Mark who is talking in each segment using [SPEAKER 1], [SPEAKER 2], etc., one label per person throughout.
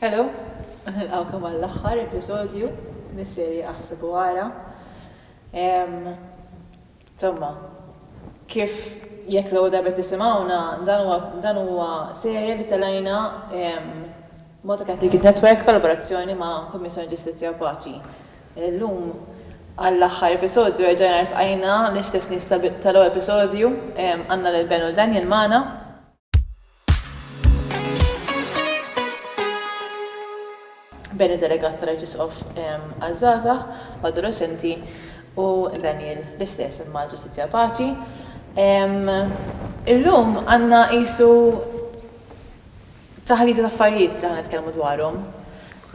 [SPEAKER 1] Hello u nilqgħukom għall-aħħar episodju mis-serje Aħseb u Ara. Insomma, kif jekk l-ewwel darba qed tisimgħuna, dan huwa dan huwa serje li telgħina Malta Catholic Youth Network f'kollaborazzjoni ma' Kummissjoni Ġustizzja u Paċi. Illum għall-aħħar episodju erġajna ltqajna l-istess nies tal-ewwel episodju, għandna lil Ben u Daniel magħna. bejn id-delegat tal-Arċisqof għaż-żgħażagħ u adolexxenti u Daniel l-istess imma l-Ġustizzja Paċi. Illum għandna qisu taħlita ta' affarijiet li ħa nitkellmu dwarhom.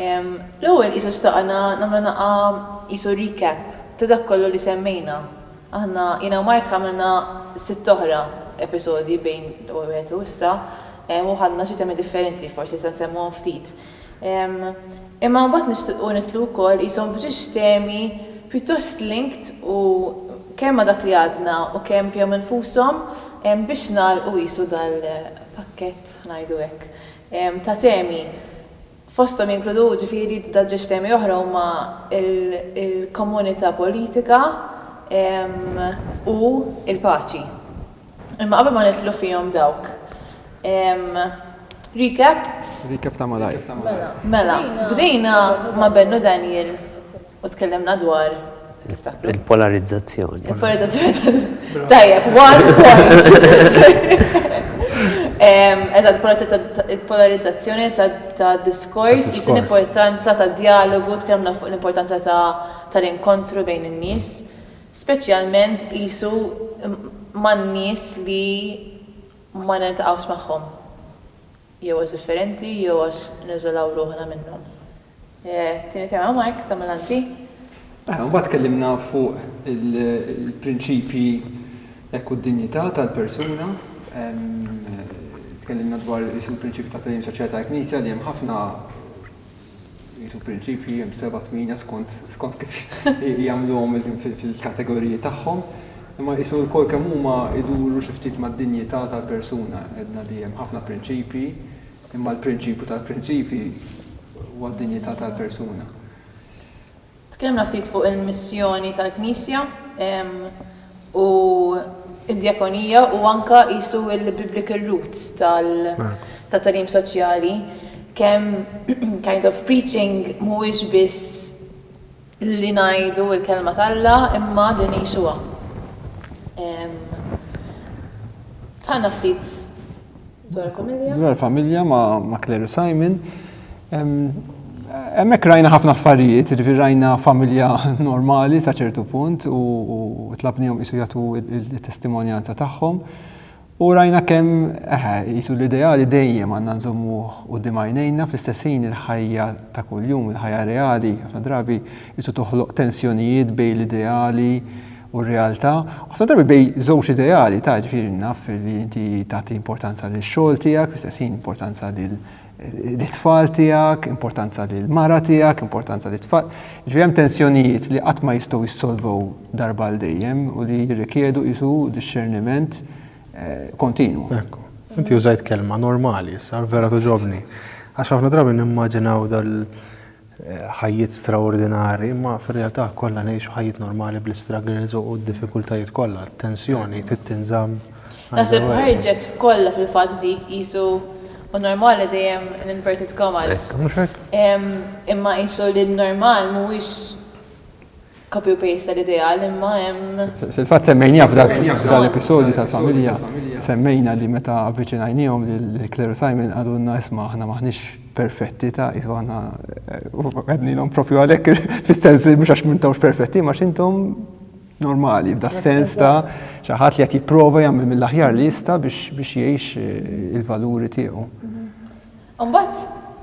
[SPEAKER 1] L-ewwel qisu xtaqna nagħmlu naqgħa qisu recap ta' dak kollu li semmejna. Aħna, jiena u Mark għamilna sitt oħra episodji bejn l-ewwel wieħed u issa u ħadna xi temi differenti, forsi se nsemmuhom ftit. Imma mbagħad nixtilqu nidħlu wkoll qishom f'ġiex temi pjuttost linked u kemm ma' dak li għadna u kemm fihom infushom biex nagħlqu qisu dal-pakkett, ngħidu hekk, ta' temi fosthom jinkludu ġifieri daġġesstemi oħra huma l-komunità politika u l-paċi. Imma qabel ma nidħlu fihom dawk, recap? Recap ta' malajr.
[SPEAKER 2] Mela,
[SPEAKER 1] bdejna ma' Bennu Daniel U tkellimna dwar Il-polarizzazzjoni.
[SPEAKER 3] Il-polarizzazzjoni.
[SPEAKER 1] Tajjeb, one point. Eżatt, il-polarizzazzjoni ta' diskors, l-importanza ta' dialogu, tkellimna fuq l-importanza tal-inkontru bejn in-nies, speċjalment qisu man-nies li ma niltaqgħux magħhom jew għax differenti jew għax niżolaw ruħna minnhom. It-tieni tema Mark tagħmilha inti. Aħna mbagħad
[SPEAKER 2] tkellimna fuq il-prinċipji hekk u d-dinjità tal-persuna. Tkellimna dwar isu l-prinċipji ta' tagħlim soċjali tal-Knisja li hemm ħafna isu prinċipji hemm seba' tmina skont skont kif jagħmluhom fil-kategoriji tagħhom. Imma isu l-kol kemm huma iduru xi ftit mad-dinjità tal-persuna. Edna li hemm ħafna prinċipji Imma l-prinċipju tal-prinċipji huwa d-dinjità tal-persuna.
[SPEAKER 1] Tkellimna ftit fuq il-missjoni tal-Knisja u d-djakonija u anke qisu l-biblical roots tat-tagħlim soċjali, kemm kind of preaching mhuwiex biss li ngħidu l-Kelma t'Alla imma li ngħixuha. Tgħidilna ftit. Dwar familja. Dwar familja ma'
[SPEAKER 2] Claire u Simon. Hemmhekk rajna ħafna affarijiet, irvi rajna familja normali sa ċertu punt u tlabnihom isu jagħtu t-testimonjanza tagħhom. U rajna kemm jisu l-ideali dejjem għandna nżommu u dimajnejna fl-istess ħin il-ħajja ta' kuljum, il-ħajja reali, ħafna drabi jisu toħloq tensjonijiet bej l-ideali u r-realtà, ħafna drabi bej żewġ ideali ta' ġifieri naf li inti tagħti importanza lil xogħol tiegħek, fl-istess ħin importanza lil eh, tfal tiegħek, importanza lil mara tiegħek, importanza lil tfal. Ġifieri hemm tensjonijiet li qatt ma jistgħu jissolvow darba l dejjem u li jirrikjedu isu discerniment eh, kontinu. Ekku,
[SPEAKER 4] inti użajt kelma normali, sa vera toġobni. Għax ħafna drabi nimmaġinaw dal ħajjiet straordinarji, imma fir-realtà kollha ngħixu ħajjiet normali bl-istruggles u d-diffikultajiet kollha, t-tensjoni trid tinżamm għal dejjem. Naħseb
[SPEAKER 1] ħarġet f'kollha fil-fatt dik qisu hu normali dejjem in inverted commas. Hekk, mhux hekk? Imma qisu li n-normal mhuwiex Copy u paste tal-ideal imma hemm. Fil-fatt semmejniha
[SPEAKER 2] f'dak l-episodju tal-familja, semmejna li meta avviċinajniehom lill-kleru Simon qalulna isma' aħna m'aħniex perfetti ta' qisu aħna u għednilhom proprju għalhekk fis-sens li mhux għax m'intawx perfetti imma għax intom normali f'da sens ta' xi ħadd li qed jipprova jagħmel mill-aħjar li jista' biex jgħix il-valuri tiegħu. Imbagħad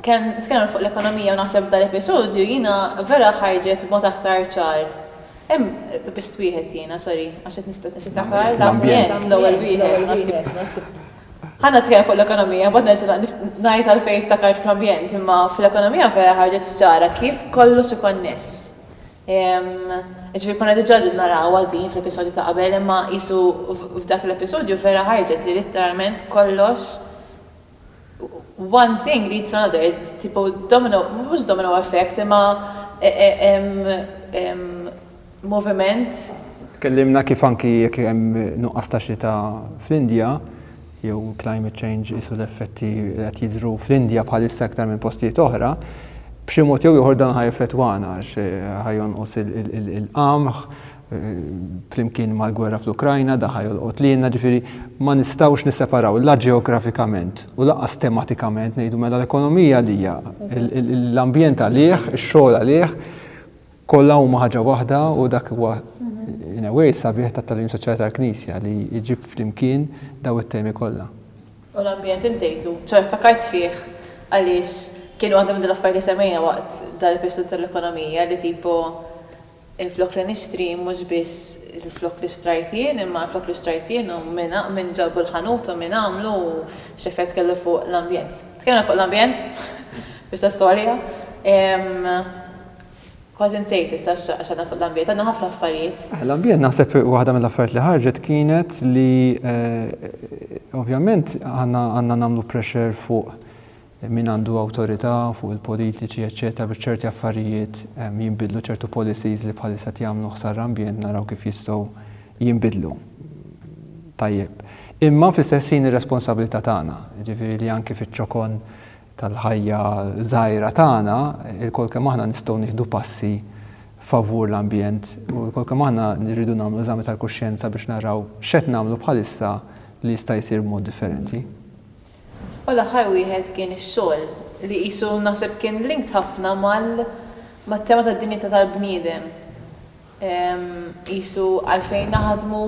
[SPEAKER 1] kemm tkellimna fuq l-ekonomija u naħseb f'dan l-episodju jiena vera ħarġet b'mod aktar ċar. Hemm biss wieħed jiena, sorry, għax qed niftakar l-ambjent l-ewwel wieħed. Ħa nitkellem fuq l-ekonomija, imbagħad nerġa' ngħid għalfejn ftakart fl-ambjent, imma fl-ekonomija vera ħarġet ċara kif kollox ikonness. Jiġifieri konna diġà qegħdin narawha din fl-episodju ta' qabel imma qisu f'dak l-episodju vera ħarġet li litteralment kollox one thing leads to another, it's tipo domino, mhux domino effect imma moviment. Tkellimna
[SPEAKER 2] kif anki jekk hemm nuqqas ta' xita fl-Indja, jew climate change qisu l-effetti li qed jidhru fl-Indja bħalissa iktar minn postijiet oħra, b'xi mod jew ieħor dan ħa jeffettwana għax ħa jonqos il-qamħ, flimkien mal-gwerra fl-Ukrajna daħa jolqot lilna, ġifieri ma nistgħux nisseparaw la ġeografikament u lanqas tematikament ngħidu mela l-ekonomija li hija l-ambjent għalih, ix-xogħol għalih, kollha huma ħaġa waħda u dak huwa in a way sabiħ tat-tagħlim soċjali tal-Knisja li jġib flimkien daw it-temi kollha. U l-ambjent
[SPEAKER 1] insejtu, ċoe ftakart fih għaliex kien waħda minn dil-affarijiet li semmejna waqt dal-episodju tal-ekonomija li tipo Flok li nixtri mhux biss flok li xtrajt jien, imma flok li xtrajt jien u min ġabu l-ħanut u min għamlu u x'effett kellu fuq l-ambjent. Tkellimna fuq l-ambjent biex ta' storja. Kważi nsejt issa għax għadna fuq l-ambjent, għandna ħafna affarijiet. L-ambjent naħseb
[SPEAKER 2] waħda mill-affarijiet li ħarġet kienet li ovvjament aħna għandna nagħmlu pressure fuq Min għandu awtorità fuq il-politiċi eċċetera biex ċerti affarijiet jinbidlu, ċertu policies li bħalissa qed jagħmlu ħsara l-ambjent naraw kif jistgħu jinbidlu. Tajjeb. Imma fl-istess ħin ir-responsabilità tagħna, jiġifieri li anki fiċ-ċokon tal-ħajja żgħira tagħna, ilkoll kemm aħna nistgħu nieħdu passi favur l-ambjent u ilkoll kemm aħna nirridu nagħmlu eżami tal-kuxjenza biex naraw x'qed nagħmlu bħalissa li jista' jsir b'mod differenti.
[SPEAKER 1] U l-aħħar wieħed kien ix-xogħol, li qisu naħseb kien linked ħafna mal, mat-tema tad-dinjità tal-bniedem, qisu għalfejn naħdmu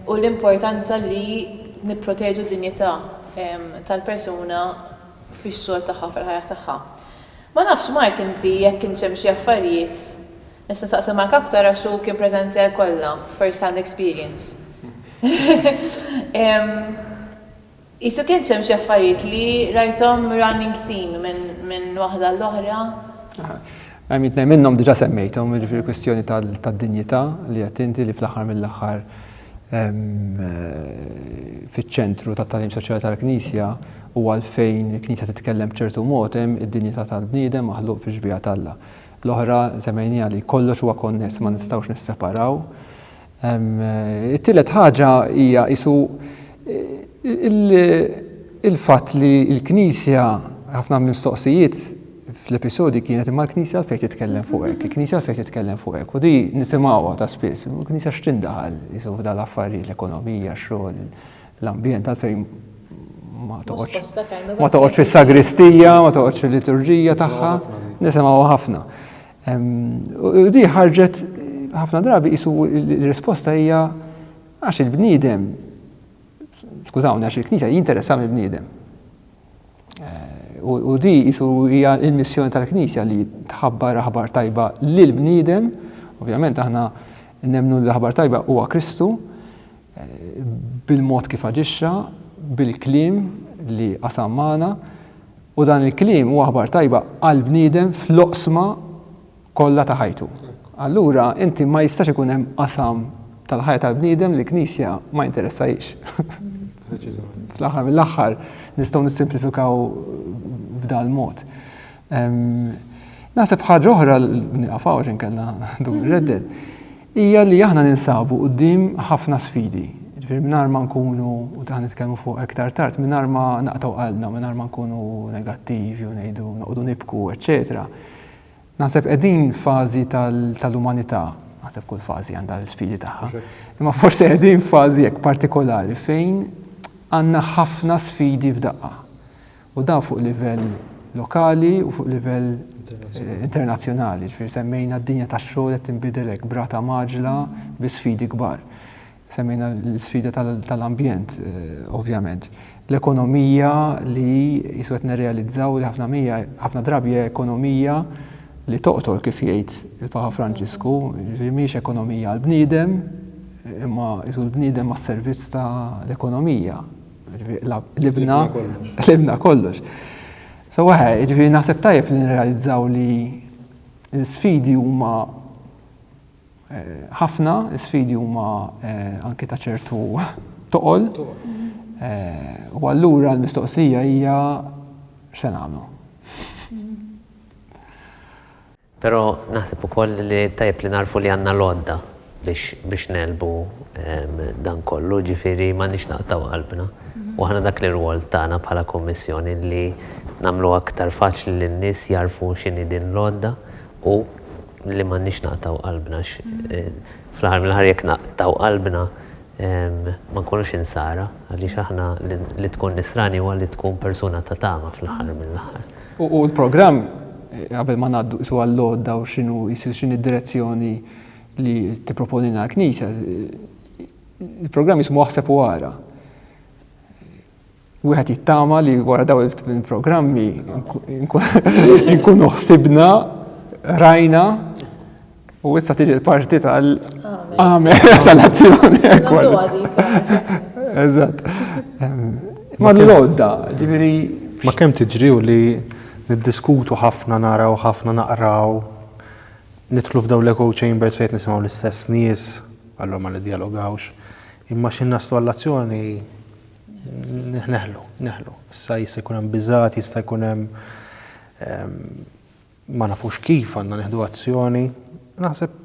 [SPEAKER 1] u l-importanza li nipproteġu d-dinjità tal-persuna fix-xogħol tagħha, fil-ħajja tagħha. Ma nafx Mark inti jekk kienx hemm xi affarijiet Nista' nsaqsi Mark aktar għax hu kien presenter kollha, first hand experience. Qisu kienx hemm xi affarijiet li rajthom running theme minn waħda għall-oħra?
[SPEAKER 2] Għamilt ngħid minnhom diġà semmejthom, jiġifieri kwistjoni tad-dinjità li qed inti li fl-aħħar mill-aħħar fiċ-ċentru tat-tagħlim soċjali tal-Knisja u għalfejn il-Knisja titkellem b'ċertu mod hemm id-dinjità tal-bniedem maħluq fix-xbieha t'Alla. L-oħra semmejniha li kollox huwa konness ma nistgħux nisseparaw. It-tielet ħaġa hija isu il-fatt li l-Knisja ħafna mistoqsijiet fl-episodi kienet imma l-Knisja għalfejn titkellem fuq hekk, il-Knisja għalfejn titkellem fuq hekk. U di nisimgħuha ta' spiss, il-Knisja x'tindaħal isu f'dan l-affarijiet l-ekonomija, x-xogħol, l-ambjent għalfejn ma toqgħodx ma toqgħodx fis-sagristija, ma toqgħodx fil-liturġija tagħha, nisimgħu ħafna. U di ħarġet ħafna drabi jisu l-risposta hija għax il-bniedem, skużawni, għax il-knisja jinteressa mill bniedem eh, U di jisu hija il-missjoni tal-knisja li tħabbar aħbar tajba lil bniedem, ovvjament aħna nemnu l-aħbar tajba huwa Kristu, bil-mod kif aġixxa, bil-kliem li qasam magħna, u dan il-kliem huwa aħbar tajba għall-bniedem fl-oqsma kollha ta' ħajtu. Allura inti ma jistax ikun hemm qasam tal-ħajja tal-bniedem li l-Knisja ma jinteressahiex. Fl-aħħar mill-aħħar nistgħu nissimplifikaw b'dal mod. Naħseb ħaġa oħra niqafaw x'inkella dur redded. hija li aħna ninsabu quddiem ħafna sfidi. Jiġifieri mingħajr ma nkunu, u dan nitkellmu fuq iktar tard, mingħajr ma naqtgħu qalbna, mingħajr ma nkunu negattivi u ngħidu noqogħdu nibku, eċċetera. Naħseb qegħdin fażi tal-umanità, naħseb kull fażi għandha l-isfidi tagħha, imma forsi qegħdin fażi hekk partikolari fejn għandna ħafna sfidi f'daqqa. U dan fuq livell lokali u fuq livell internazzjonali, ġifieri semmejna d-dinja tax-xogħol qed tinbidel hekk brata maġla bi sfidi kbar. Semmejna l-sfida tal-ambjent, ovvjament. L-ekonomija li jisu qed nirrealizzaw li ħafna mija, ħafna drabi hija ekonomija li toqtol kif jgħid il-Papa Franġisku, ġifieri mhijiex ekonomija għall-bniedem, imma jisu l-bniedem għas-servizz tal-ekonomija. Libna libna kollox. So waħe, ġifieri naħseb tajjeb li nirrealizzaw li l-sfidi huma eh, ħafna, l-sfidi huma eh, anke ta' ċertu toqol. Eh, u allura l-mistoqsija hija x'se nagħmlu.
[SPEAKER 3] Però naħseb ukoll li tajjeb li nagħrfu li għandna l-għodda biex biex ngħelbu dan kollu, jiġifieri m'għandniex naqtgħu qalbna. U aħna dak l-irwol tagħna bħala Kummissjoni li nagħmluha aktar faċli li n-nies jagħrfu x'inhi din l-għodda u li m'għandniex naqtgħu qalbna għax fl-aħħar mill-aħħar jekk naqtgħu qalbna ma nkunux insara, għaliex aħna li tkun nisrani huwa li tkun persuna ta' tama fl-aħħar mill-aħħar. U l-programm,
[SPEAKER 2] qabel ma ngħaddu qisu għall-għodda u x'inhu qisu x'inhi d-direzzjoni li tipproponilna l-Knisja, il-programm jismu Aħseb u Ara. Wieħed jittama li wara daw il-programmi nkunu ħsibna, rajna, u issa tiġi l-parti tal-għamel tal-azzjoni. Eżatt. Ma l-lodda, ġiviri. Ma kem tiġri
[SPEAKER 4] u li niddiskutu ħafna naraw, ħafna naqraw, nitlu f'daw l-echo chambers fejt nisimaw l-istess nies, għallom ma l-dialogawx, imma xin naslu għall-azzjoni Neħlu, neħlu. Issa jista' jkun hemm biżgħat, jista' jkun hemm ehm, ma nafux kif għandna neħdu azzjoni. Naħseb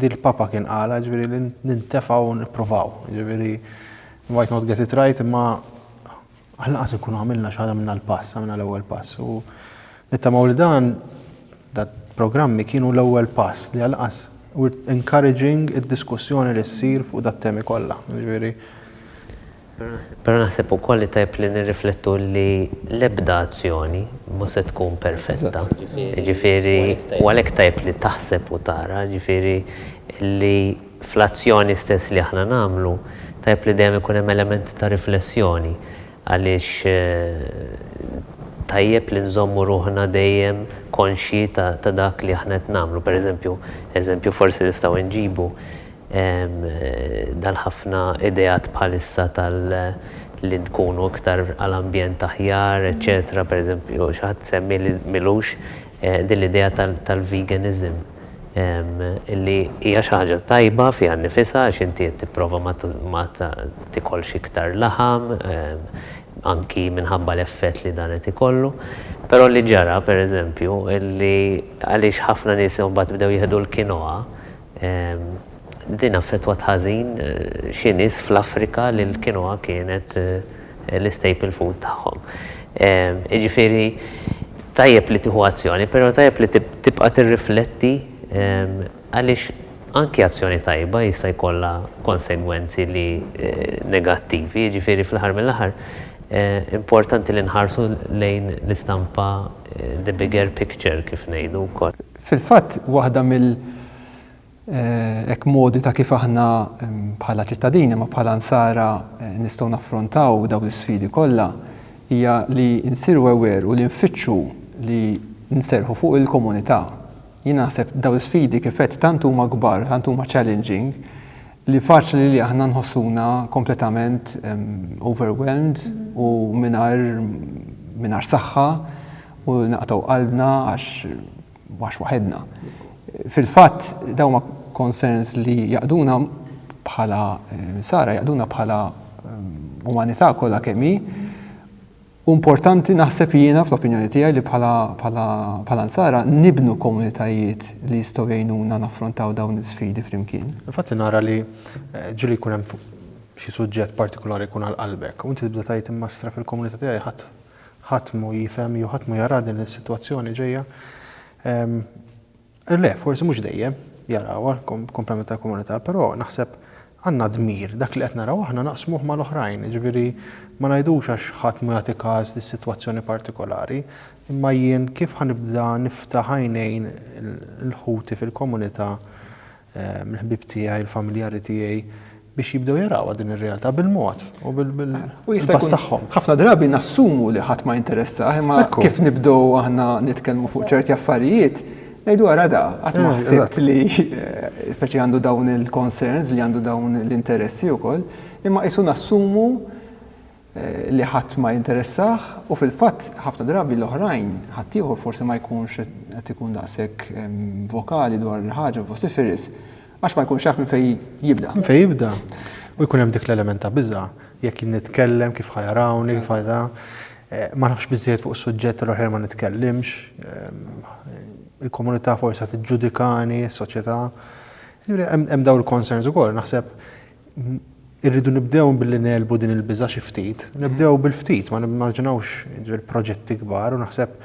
[SPEAKER 4] dil-papa kien qala ġifieri li nintefaw u nippruvaw. Ġifieri might not get it right imma għal-naqas nkunu għamilna xi ħaġa minna l-pass, għamilna l-ewwel pass. U nittamaw li dan Dal-programmi kienu l-ewwel pass li alqas were encouraging id-diskussjoni li ssir fuq dat-temi kollha, jiġifieri.
[SPEAKER 3] Però naħseb ukoll li tajjeb li nirriflettu li l-ebda azzjoni mhu se tkun perfetta, jiġifieri u għalhekk tajjeb li taħseb u tara, jiġifieri li fl-azzjoni stess li aħna nagħmlu tajjeb li dejjem ikun hemm element ta' riflessjoni. għaliex tajjeb li nżommu ruħna dejjem konxji ta' dak li aħna qed nagħmlu. Per eżempju, eżempju forsi nistgħu inġibu dal-ħafna ideat bħalissa tal li nkunu iktar għal ambjent aħjar, eċċetera, per eżempju xi ħadd semmi li m'ilux din l-idea tal-veganism. Illi hija xi ħaġa tajba fiha nnifisha għax inti qed tipprova ma tikolx iktar laħam, anki minħabba l-effett li dan qed ikollu. Però li ġara, per eżempju, illi għaliex ħafna nies imbagħad bdew jieħdu l-quinoa, din affettwat ħażin xi nies fl-Afrika li l-quinoa kienet, l-istaple food tagħhom. Jiġifieri tajjeb li tieħu azzjoni, però tajjeb li tibqa' tirrifletti għaliex anki azzjoni tajba jista' jkollha konsegwenzi li negattivi, jiġifieri fl-aħħar mill-aħħar importanti li nħarsu lejn l-istampa the bigger picture kif ngħidu wkoll. Fil-fatt waħda
[SPEAKER 2] mill. Hekk modi ta' kif aħna bħala ċittadini ma bħala nsara nistgħu naffrontaw dawn l-isfidi kollha hija li nsiru aware u li nfittxu li nserrħu fuq il-komunità. Jien naħseb dawn l-isfidi kif għedt tant huma kbar, tant huma challenging li faċli li aħna nħossuna kompletament overwhelmed u mingħajr mingħajr saħħa u naqtgħu qalbna għax mhux waħedna. Fil-fatt, dawn huma concerns li jaqduna bħala Insara, jaqduna bħala umanità kollha kemm hi. U importanti naħseb jiena fl-opinjoni tiegħi li bħala Insara nibnu komunitajiet li jistgħu jgħinuna naffrontaw dawn l-isfidi flimkien. Fatt li nara li
[SPEAKER 4] eh, ġili jkun hemm xi suġġett partikolari jkun għal qalbek. U inti tibda tgħid imma fil-komunità tiegħi ħadd Ħadd mhu jifhem jew ħadd mhu jara din is-sitwazzjoni ġejja. Le, forsi mhux dejjem jarawha komplement tal-komunità, però naħseb għandna dmir dak li qed naraw aħna naqsmuh mal-oħrajn, jiġifieri ma ngħidux għax ħadd mhu jagħti każ dis-sitwazzjoni partikolari, imma jien kif ħa nibda niftaħ għajnejn il-ħuti fil-komunità mill-ħbieb tiegħi, il-familjari tiegħi biex jibdew jarawha din ir-realtà bil-mod u bil-pass tagħhom. Ħafna drabi nassumu
[SPEAKER 2] li ħadd ma jinteressah, imma kif nibdew aħna nitkellmu fuq ċerti affarijiet, ngħidu ara da, qatt ma ħsibt li speċi għandu dawn il-concerns li għandu dawn l-interessi wkoll, imma qisu nassumu li ħadd ma jinteressah u fil-fatt ħafna drabi l-oħrajn, ħaddieħor forsi ma jkunx qed ikun daqshekk vokali dwar il-ħaġa, vociferous, għax ma jkunx jaf minn fejn jibda.
[SPEAKER 4] Minn
[SPEAKER 2] fejn jibda. U jkun
[SPEAKER 4] hemm dik l-element ta' biża', jekk jien nitkellem, kif ħa jarawni, kif ħa da. Ma nafx biżżejjed fuq is-suġġett tal-oħrajn ma nitkellimx, il-komunità forsi ħa tiġġudikani, is-soċjetà. Hemm dawn il-concerns ukoll. Naħseb irridu nibdew billi ngħelbu din il-biża' xi ftit, nibdew bil-ftit, ma nimmaġinawx ġifieri proġetti kbar u naħseb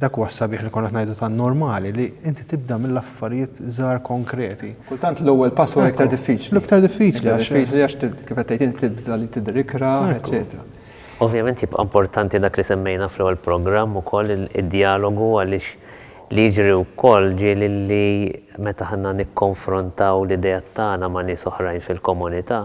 [SPEAKER 4] dak huwa s-sabiħ li konna qed ngħidu tant normali li inti tibda mill-affarijiet żgħar konkreti. Kultant l-ewwel pass
[SPEAKER 2] huwa l-iktar diffiċli. L-iktar diffiċli għax.
[SPEAKER 4] Diffiċli għax kif
[SPEAKER 2] qed tgħid inti tibża' li tidher ikra, eċċetera. Ovvjament jibqa'
[SPEAKER 3] importanti dak li semmejna fl-ewwel programm ukoll id-djalogu għaliex Li jiġri wkoll ġieli li meta aħna nikkonfrontaw l-ideat tagħna ma' nies oħrajn fil-komunità,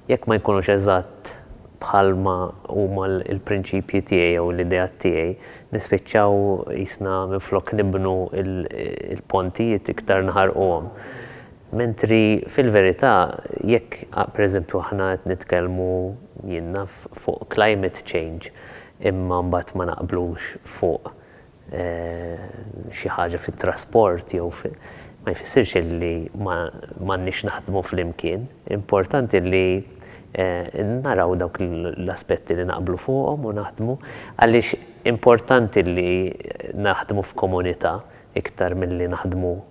[SPEAKER 3] jekk ma jkunux eżatt bħalma huma l-prinċipji tiegħi jew l-ideat tiegħi, nispiċċaw qisna minflok nibnu l-pontijiet iktar naħarquhom. Mentri fil-verità jekk pereżempju aħna qed nitkellmu, jien naf, fuq climate change imma mbagħad ma naqblux fuq xi ħaġa fit-trasport jew fi, ma jfissirx li ma għandniex naħdmu flimkien. Importanti li naraw dawk l-aspetti li naqblu fuqhom u naħdmu għaliex importanti li naħdmu f'komunità iktar milli naħdmu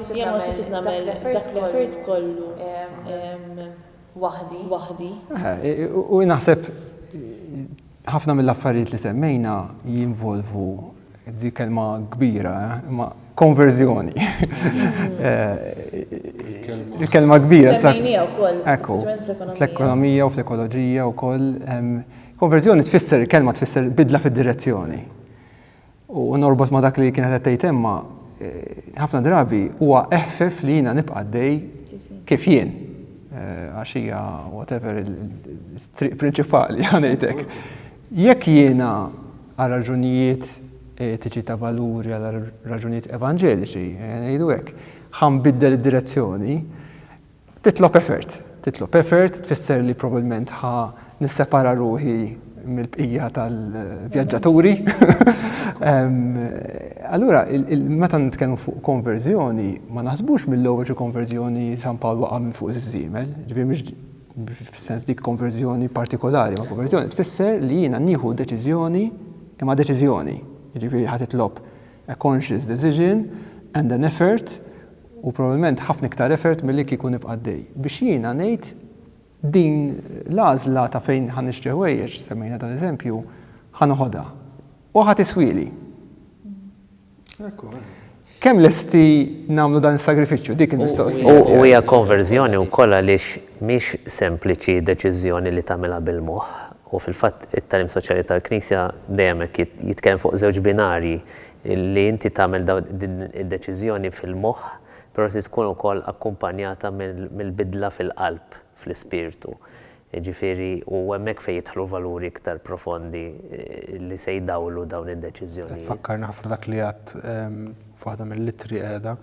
[SPEAKER 1] Jien ma xtaqx nagħmel dak l-effort kollu waħdi. U
[SPEAKER 2] naħseb ħafna mill-affarijiet li semmejna jinvolvu, di kelma kbira, imma konverżjoni. Il-kelma kbira. Semmejnija
[SPEAKER 1] wkoll. Ekku.
[SPEAKER 2] Fl-ekonomija u fl-ekoloġija wkoll. Konverżjoni tfisser, il-kelma tfisser bidla fid-direzzjoni. U norbot ma' dak li kienet qed tgħid Emma, ħafna drabi huwa eħfef li jiena nibqa' għaddej kif jien. Għax hija whatever il-triq prinċipali ħanejtek. Jekk jiena għal raġunijiet etiċi ta' valuri, għal raġunijiet evanġeliċi, ngħidu hekk, ħanbiddel id-direzzjoni, Titlob effort. Titlob effort tfisser li probabbilment ħa nissepara ruħi mill-bqija tal-vjaġġaturi. Allura, meta nitkellmu fuq konverżjoni, ma naħsbux mill-ewwel xi konverżjoni San Pawl waqa' minn fuq iż-żiemel, ġifieri mhux fis-sens dik konverżjoni partikolari, imma konverżjoni tfisser li jiena nieħu deċiżjoni imma deċiżjoni, jiġifieri ħa titlob a conscious decision and an effort, u probabbilment ħafna iktar effort milli kieku nibqa' għaddej, biex jiena ngħid din l-għażla ta' fejn ħa nixtri ħwejjeġ, semmejna dan eżempju, ħa noħodha u ħa tiswieli. Kemm lesti nagħmlu dan is-sagrifiċċju dik il-mistoqsija? U hija konverżjoni
[SPEAKER 3] wkoll għaliex mhix sempliċi deċiżjoni li tagħmilha bil-moħħ, U fil-fatt it-tagħlim soċjali tal-Knisja dejjem hekk jitkellem fuq żewġ binarji, li inti tagħmel din id-deċiżjoni fil-moħħ, però trid tkun ukoll akkumpanjata mill-bidla fil-qalb, fl-ispirtu. Jiġifieri hu hemmhekk fejn jidħlu valuri iktar profondi li se jdawlu dawn id-deċiżjonijiet. Qed tfakkarni ħafna dak li
[SPEAKER 4] għedt f'waħda mill-ittri qiegħda,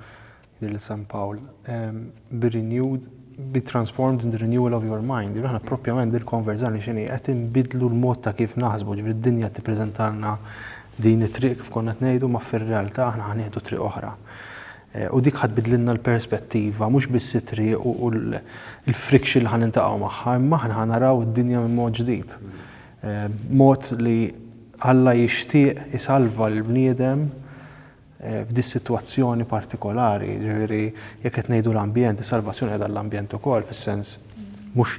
[SPEAKER 4] lil San Pawl, bi renewed, be transformed in the renewal of your mind. Jiġifieri aħna proprjament din il-konverżjoni x'inhi? Qed inbiddlu l-mod ta' kif naħsbu, jiġifieri d-dinja qed tippreżentalna din it-triq kif konna qed ngħidu, ma fir-realtà aħna ħa nieħdu triq oħra. U dik ħa tbiddlilna l-perspettiva, mhux biss it-triq u l-friction li ħa niltaqgħu magħha, imma aħna ħa naraw id-dinja minn mod ġdid. Mod li Alla jixtieq isalva lill-bniedem f'dis-sitwazzjoni partikolari, jiġifieri jekk qed ngħidu l-ambjent, is-salvazzjoni qiegħda l-ambjent ukoll fis-sens mhux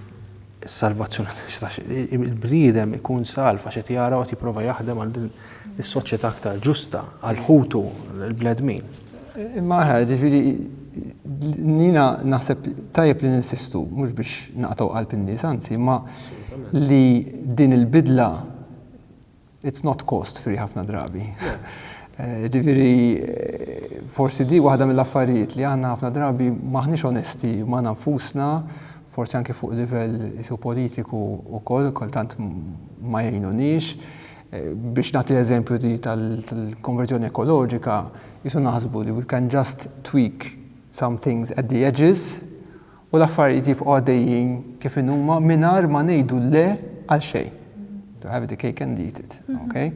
[SPEAKER 4] is-salvazzjoni għax il-bniedem ikun salv għax qed jara u qed jipprova jaħdem għal din is-soċjetà aktar ġusta għal ħutu l-bnedmin. Imma
[SPEAKER 2] ħa, ġifieri nina naħseb tajjeb li ninsistu mhux biex naqtgħu qalb in-nies anzi, imma li din il-bidla It's not cost free ħafna drabi. Ġifiri, forsi di waħda mill-affarijiet li għanna ħafna drabi maħniex onesti ma' nafusna, forsi anki fuq livell isu politiku u koll, kultant ma jgħinunix. Eh, biex nagħti l-eżempju di tal-konverżjoni ekoloġika, jisu naħsbu li we can just tweak some things at the edges u l-affarijiet jibqgħu għaddejjin kif inhuma mingħajr ma ngħidu le għal xejn. To have the cake and eat it. Mhm. Okay?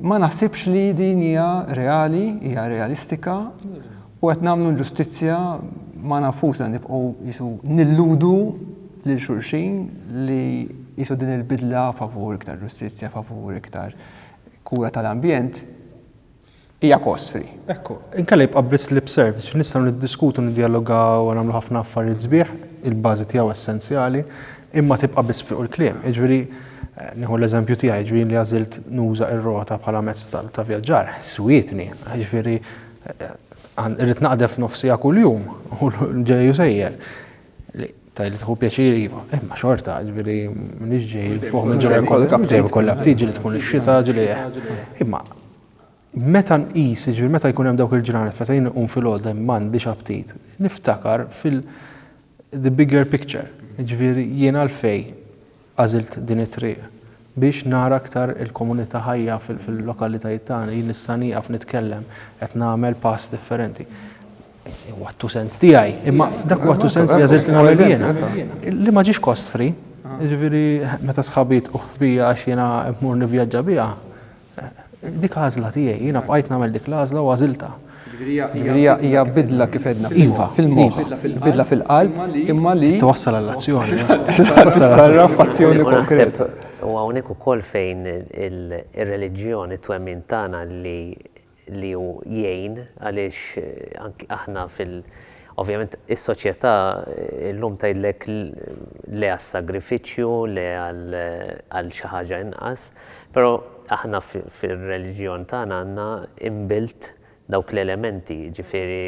[SPEAKER 2] Ma naħsibx li din hija reali, hija realistika u qed nagħmlu ġustizzja ma nafusna nibqgħu jisu nilludu lil xulxin li jisu din il-bidla favur iktar ġustizzja, favur iktar kura tal-ambjent, hija cost free. Ekku, inkella jibqa'
[SPEAKER 4] biss lip service, nistgħu niddiskutu, niddjalogaw u nagħmlu ħafna affarijiet sbieħ, il-bażi tiegħu essenzjali, imma tibqa' biss fuq il-kliem. Jiġifieri, nieħu l-eżempju tiegħi, jiġifieri jien li għażilt nuża r-rota bħala mezz ta' vjaġġar, swietni, jiġifieri irrid naqdef nofs siegħa kuljum u ġej u sejjer. Li tajli tħu pjaċir iva, imma xorta, ġviri, minix ġej fuq minn ġurra kollha, ġej kollha tiġi li tkun ix-xita ġlieħ. Imma meta nqis, ġviri, meta jkun hemm dawk il-ġranet meta jien un fil-għodda m'għandix aptit, niftakar fil- the bigger picture. Ġviri, jien għalfej Għażilt din it-triq biex nara aktar il-komunità ħajja fil-lokalitajiet tagħna. Jien nista' nieqaf nitkellem, qed nagħmel pass differenti. Huwa t-two cents tiegħi, imma dak huwa t-two cents li għażilt nagħmel jiena. Li ma ġiex cost free, jiġifieri meta sħabi jitqu ħbija għax jiena mmur nivvjaġġa biha, Dik għażla tiegħi, jiena bqajt nagħmel dik l-għażla u għażilta. Ġifieri
[SPEAKER 2] hija bidla kif edna. Iva, fil-moħħ. Bidla fil-qalb imma li twassal għall-azzjoni.
[SPEAKER 4] Sarra
[SPEAKER 2] f'azzjoni konkret. U hawnhekk
[SPEAKER 3] ukoll fejn ir-reliġjoni twemmin tagħna li li hu jgħin għaliex anki aħna fil ovvjament is-soċjetà llum tgħidlek le għas-sagrifiċċju, le għal xi ħaġa inqas, però aħna fir-reliġjon tagħna għandna inbuilt dawk l-elementi, jiġifieri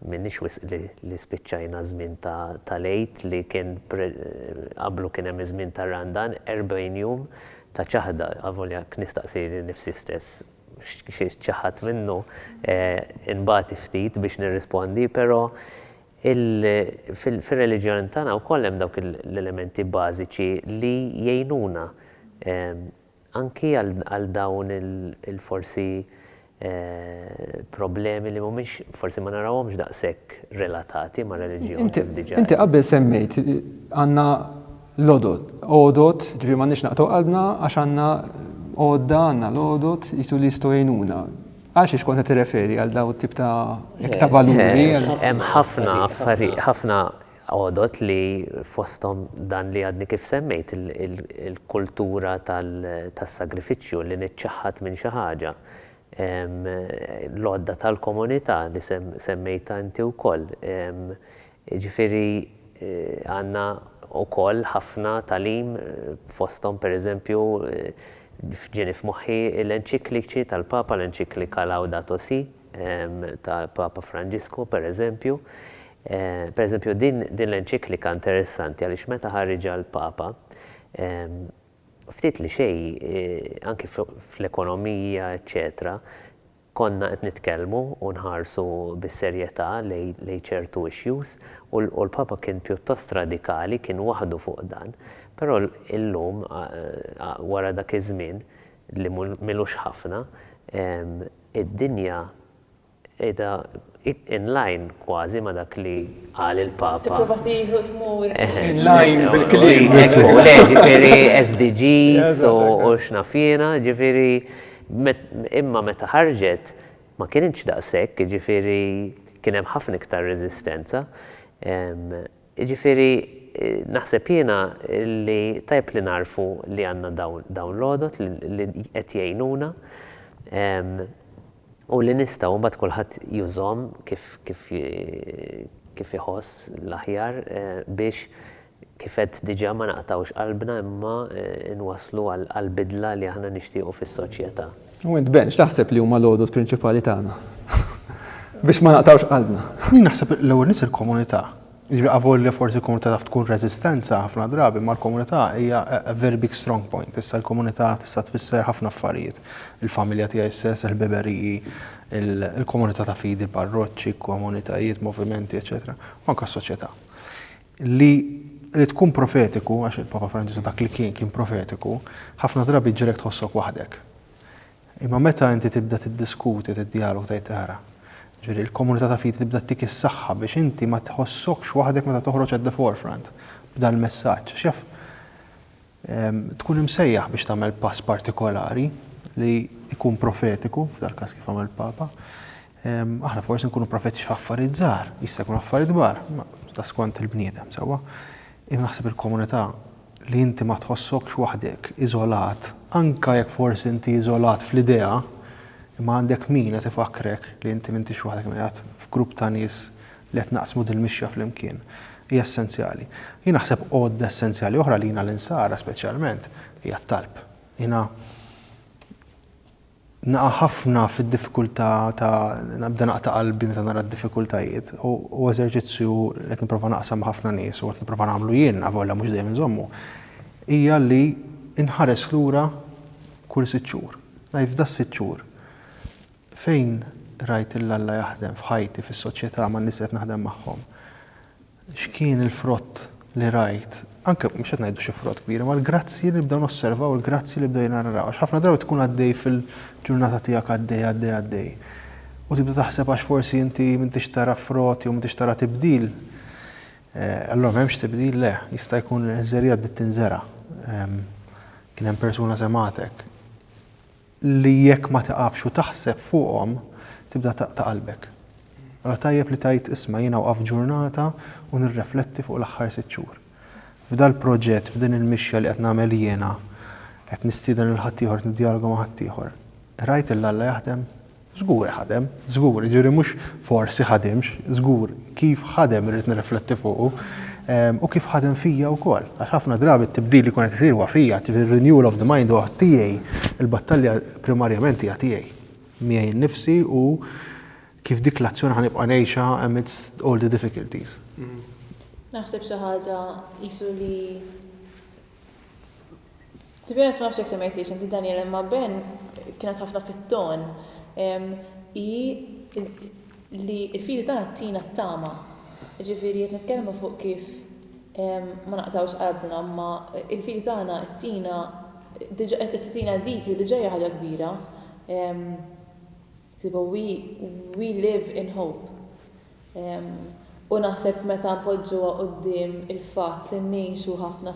[SPEAKER 3] m'iniex wisq li spiċċajna ż-żmien tal-Għid li kien qablu kien hemm iż-żmien tar-Randan, 40 jum ta' ċaħda, avolja jekk nistaqsi lil nifsi stess xi ċaħadt minnu, inbati ftit biex nirrispondi, però fir-reliġjon tagħna wkoll hemm dawk l-elementi bażiċi li jgħinuna anki għal dawn il-forsi problemi li mhumiex, forsi ma narawhomx daqshekk relatati mar-reliġjon kif diġà qed. Inti qabel
[SPEAKER 2] semmejt għandna l-għodod, għodod, ġifieri m'għandniex naqtgħu qalbna għax għandna għodda, għandna l-għodod qisu li jistgħu jgħinuna. Għal xiex kont qed tirreferi għal dawn it-tip ta' valuri? Hemm ħafna
[SPEAKER 3] affarijiet, ħafna Għodod li fosthom dan li għadni kif semmejt, il-kultura tas-sagrifiċċju, li niċċaħħad minn xi ħaġa, l-għodda tal-komunità li semmejtha inti wkoll. Jiġifieri għandna wkoll ħafna tagħlim fosthom pereżempju ġieni f'moħħi l-enċikliċi tal-Papa, l-enċiklika Laudato Si, tal-Papa Franġisku, pereżempju. Pereżempju, din l-enċiklika interessanti għaliex meta ħariġha l-Papa, ftit li xejn, anki fl-ekonomija, eċċetera, konna qed nitkellmu u nħarsu bis-serjetà lejn ċertu issues u l-Papa kien pjuttost radikali, kien waħdu fuq dan. Però llum, wara dak iż-żmien, li m'ilux ħafna, id-dinja qiegħda in line kważi ma' dak li qal il-Papa. Tipprova tieħu u
[SPEAKER 1] tmur. In
[SPEAKER 2] line bil-kliem. Ekku, le, ġifieri
[SPEAKER 3] SDGs u x'naf jiena, ġifieri imma meta ħarġet ma kinitx daqshekk, jiġifieri kien hemm ħafna iktar reżistenza. Jiġifieri naħseb jiena li tajjeb li nagħrfu li għandna dawn l-għodod li qed jgħinuna u li nistgħu imbagħad kulħadd jużhom kif iħoss l-aħjar biex kif għedt diġà ma naqtgħux qalbna imma nwasslu għall-bidla li aħna nixtiequ fis-soċjetà. U int Ben,
[SPEAKER 2] x'taħseb li huma l-għodod prinċipali tagħna biex ma naqtgħux qalbna? Jien naħseb l-ewwel
[SPEAKER 4] nies il-komunità. Jiġifieri avolja forsi l-komunità taf tkun reżistenza ħafna drabi, imma l-komunità hija a very big strong point. Issa l-komunità tista' tfisser ħafna affarijiet. Il-familja tiegħi stess, il-ħbiberiji, il-komunità ta' fidi, parroċċi, komunitajiet, movimenti, eċċetera, u anke s-soċjetà. Li li tkun profetiku, għax il-Papa Franġisku dak li kien kien profetiku, ħafna drabi jġiegħlek tħossok waħdek. Imma meta inti tibda tiddiskuti u tiddjaloga tgħid ara, ġifieri l-komunità ta' fidi tibda ttik is-saħħa biex inti ma tħossokx waħdek meta toħroġ at the forefront b'dal-messaġġ. Għax jaf, Tkun imsejjaħ biex tagħmel pass partikolari li jkun profetiku, f'dal-każ kif għamel Papa. Aħna forsi nkunu profetiċi f'affarijiet żgħar, jista' jkun affarijiet kbar, ta' skont il-bniedem, sewwa. Imma naħseb il-komunità li inti ma tħossokx waħdek, iżolat, anke jekk forsi inti iżolat fl-idea, imma għandek min qed ifakrek li inti m'intix waħdek, qiegħed f'grupp ta' nies li qed naqsmu dil-mixja flimkien hija essenzjali. Jien naħseb għodda essenzjali oħra għalina l-Insara speċjalment hija t-talb. Jiena naqa' ħafna fid-diffikultà ta' nibda naqta' qalbi meta nara d-diffikultajiet u eżerċizzju li qed nipprova naqsam ma' ħafna nies u qed nipprova nagħmlu jien avolja mhux dejjem inżommu hija li nħares lura kull sitt xhur. Ngħid f'da sitt xhur Fejn rajt lil Alla jaħdem f'ħajti, fis-soċjetà, man-nies li qed naħdem magħhom? X'kien il-frott li rajt? Anke, mhux qed ngħidu xi frott kbir, imma l-grazzji li nibdew nosservaw, il-grazzji li bdejna naraw. Għax ħafna drabi tkun għaddej fil-ġurnata tiegħek għaddej, għaddej, għaddej. U tibda taħseb għax forsi inti m'intix tara frott jew m'intix tara tibdil, allura m'hemmx tibdil, le, jista' jkun żerriegħa bdiet tinżera'. Kien hemm persuna semgħatek. li jekk ma tiqafx u taħseb fuqhom tibda taqta' qalbek. Allura tajjeb li tgħid isma' jiena wqaft ġurnata u nirrefletti fuq l-aħħar sitt xhur. F'dal-proġett, f'din il-mixja li qed nagħmel jiena, qed nistieden lil ħaddieħor, qed niddjaloga ma' ħaddieħor, rajt lil Alla jaħdem? Żgur ħadem, żgur, jiġifieri mhux forsi ħadimx, żgur kif ħadem irrid nirrifletti fuqu u kif ħadem fija wkoll. Għax ħafna drabi t-tibdil li jkun qed isir huwa fija, ġifieri renewal of the mind huwa tiegħi, il-battalja primarjament hija tiegħi. Miegħi nnifsi u kif dik l-azzjoni ħa nibqa' ngħixha amidst all the difficulties.
[SPEAKER 1] Naħseb xi ħaġa qisu li. To be honest ma nafx jekk semmejtiex inti Daniel imma Ben kienet ħafna fit-ton hi li l-fidi tagħna tina t-tama. Ġifieri qed nitkellmu fuq kif ma naqtgħux qalbna imma l-fidi tagħna tina tina dik li diġà hija ħaġa kbira. Sibu We We live in hope. U naħseb meta npoġġuha quddiem il-fatt li ngħixu ħafna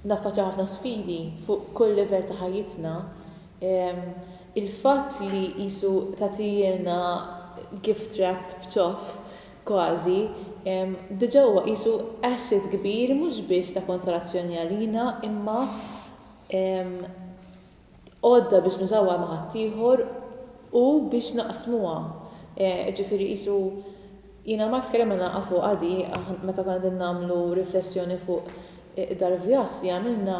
[SPEAKER 1] naffaċċjaw ħafna sfidi fuq kull livell ta' ħajjitna, il-fatt li qisu tagħtihielna gift wrapped b'ċoff kważi, diġà huwa qisu asset kbir mhux biss ta' konsolazzjoni għalina imma għodda biex nużawha ma' ħaddieħor u biex naqsmuha. Jiġifieri qisu jiena u Mark tkellimna nafu qadi meta konna qegħdin nagħmlu riflessjoni fuq dal-vjaġġ li għamilna,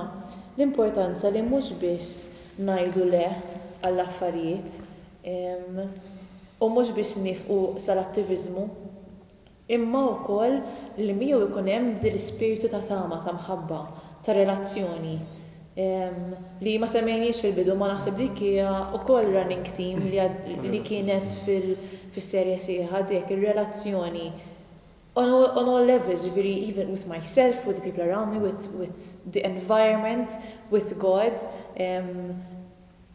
[SPEAKER 1] l-importanza li mhux biss ngħidu le għall-affarijiet u mhux biss niefqu sal-attiviżmu. imma wkoll li miegħu jkun hemm din l-ispirtu ta' tama, ta' mħabba, ta' relazzjoni, li ma semmejnihiex fil-bidu imma naħseb dik hija wkoll running theme li kienet fis-serje sħiħa dik ir-relazzjoni on all, on all levels, jiġifieri even with myself, with the people around me, with, with the environment, with God,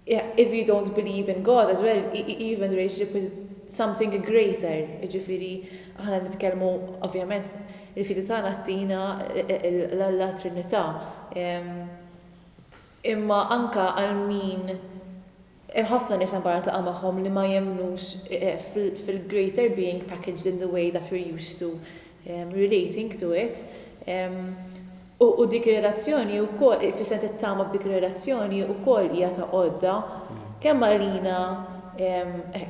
[SPEAKER 1] If you don't believe in God as well, even the relationship with something greater, jiġifieri aħna nitkellmu ovvjament il-fidi tagħna ttina l-Alla Trinità. Imma anke għal min hemm ħafna nies anke niltaqa' magħhom li ma jemmnux fil-greater being packaged in the way that we're used to relating to it, U dik ir-relazzjoni wkoll, fis-sens it-tama f'dik ir-relazzjoni wkoll hija ta' għodda kemm għalina,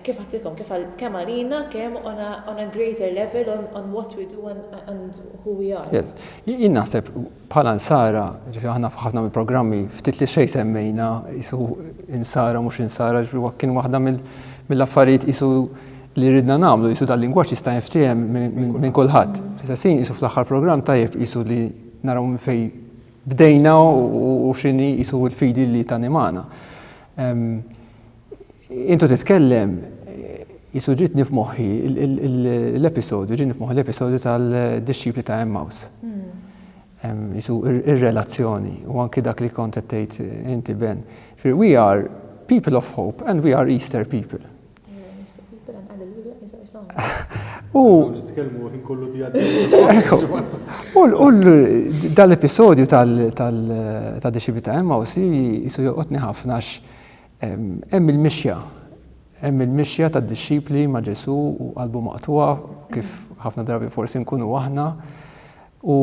[SPEAKER 1] kif għedtilkom, kif għal, kemm għalina, kemm on a, on a greater level on, on what we do and, and who we are. Yes. Jien naħseb
[SPEAKER 2] bħala Nsara, ġifieri aħna f'ħafna mill-programmi ftit li xejn semmejna qisu Insara mhux Insara, ġifieri kien waħda mill-affarijiet qisu li ridna nagħmlu qisu dal-lingwaġġ jista' jinftiehem minn kulħadd. Fl-istess ħin qisu fl-aħħar programm tajjeb qisu li naraw minn fejn bdejna u x'inhi qisu l-fidi li tanimana. Intu titkellem qisu ġietni f'moħħi l-episodju, ġieni f'moħħi l-episodju tal-dixxipli ta' Emmaus. Qisu ir-relazzjoni u anki dak li kont qed tgħid inti Ben. We are people of hope and we are Easter people. U dal-episodju ta' Dixxipli ta' Emmaus jisu joqgħodni ħafna għax hemm il-mixja, hemm il-mixja tad-dixxipli ma' Ġesu u qalbu maqtugħa kif ħafna drabi forsi nkunu aħna. U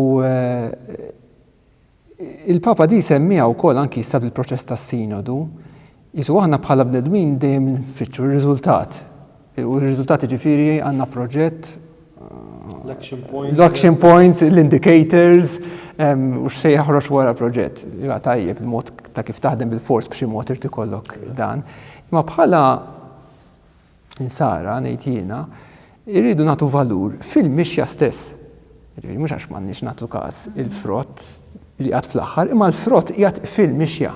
[SPEAKER 2] Il-Papa di jsemmiha wkoll anki issa fil-proċess tas-Sinodu, qisu aħna bħala bnedmin dejjem nfittxu r-riżultat. U r-riżultat jiġifieri għandna proġett L-action points. L-action points, l-indicators, u x'se jaħroġ wara proġett. Ja tajjeb il-mod ta' kif taħdem bil-fors b'xi mod irid ikollok dan. Imma bħala Insara, ngħid jiena, irridu nagħtu valur fil-mixja stess. Jiġifieri mhux għax m'għandniex nagħtu każ il-frott li qiegħed fl-aħħar, imma l-frott qiegħed fil-mixja.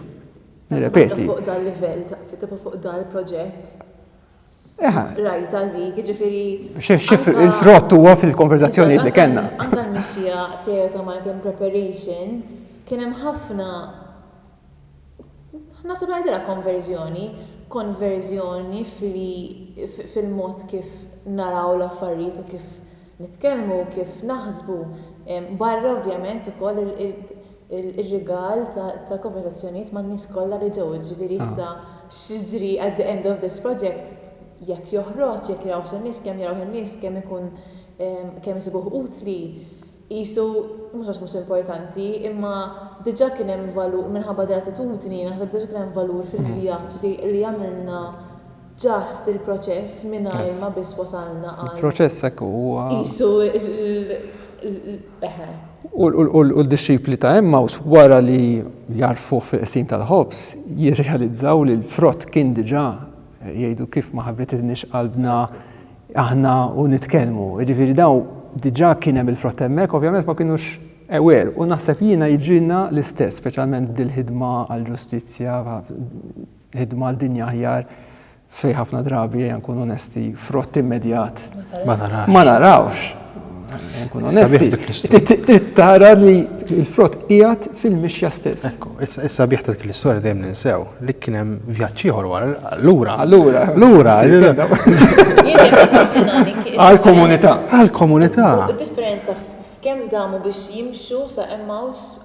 [SPEAKER 2] Nirrepeti. Fuq dan livell,
[SPEAKER 1] tibqa' fuq dan il-proġett. Eħa. Rajta dik, jiġifieri.
[SPEAKER 2] Il-frott huwa fil-konverzazzjonijiet li kellna. Anka l-mixja
[SPEAKER 1] Teresa Marken Preparation kien hemm ħafna Naħseb li ngħidilha konverżjoni, konverżjoni f'li fil-mod kif naraw l-affarijiet u kif nitkellmu, kif naħsbu, barra ovvjament ukoll ir-rigal ta' konverżazzjonijiet man-nies kollha li ġew, jiġifieri issa x'jiġri at the end of this project, jekk joħroġ, jekk jarawhx in-nies, kemm jarawh in-nies, kemm ikun kemm isibuh utli. Qisu, mhux għax mhux importanti, imma diġà kien hemm valur, minħabba gratitudni, naħseb diġà kien hemm valur fil-vjaġġ li li għamilna just il-proċess mingħajr ma biss wasalna għal. Il-proċess hekk hu huwa. Qisu
[SPEAKER 2] l, eħe. U d-dixxipli ta' Emmaws wara li jagħrfuh fil-qsim tal-ħobż, jirrealizzaw li l-frott kien diġà, jgħidu kif ma ħabbrititniex qalbna aħna u nitkellmu. Jiġifieri daw diġà kien hemm il-frott hemmhekk, ovvjament ma kinux ewer. U naħseb jiena jiġrilna l-istess, speċjalment dil-ħidma għall-ġustizzja, ħidma għal dinja aħjar fej ħafna drabi għan kun onesti frott immedjat. Ma narawx. Tara li l-frott qiegħed fil-mixja stess. Ekku, issa bieħ ta' dik
[SPEAKER 4] l-istorja dejjem ninsew li kien hemm vjaġġ ieħor wara allura. Allura. Allura.
[SPEAKER 2] Għal-komunità. Għal-komunità.
[SPEAKER 1] Differenza kemm damu biex jimxu sa' Emmaus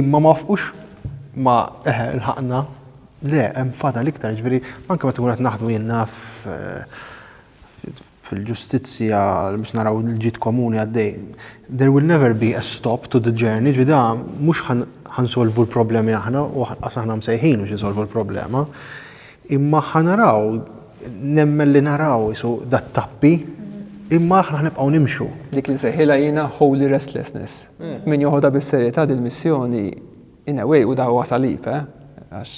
[SPEAKER 4] Imma ma wafqux ma eħe lħaqna, le hemm fadal iktar, jiġifieri anke meta qed naħdmu jien naf fil-ġustizzja biex naraw il-ġid komuni għaddej. There will never be a stop to the journey, ġvida mhux ħansolvu l-problemi aħna u ħas aħna msejħin biex nsolvu l-problema. Imma ħanaraw, nemmen li naraw jisu dat tappi, imma aħna ħnibqgħu nimxu. Dik li sejħilha
[SPEAKER 2] jiena holy restlessness. Min joħodha bis-serjetà dil-missjoni in a way u da huwa salib, eh? Għax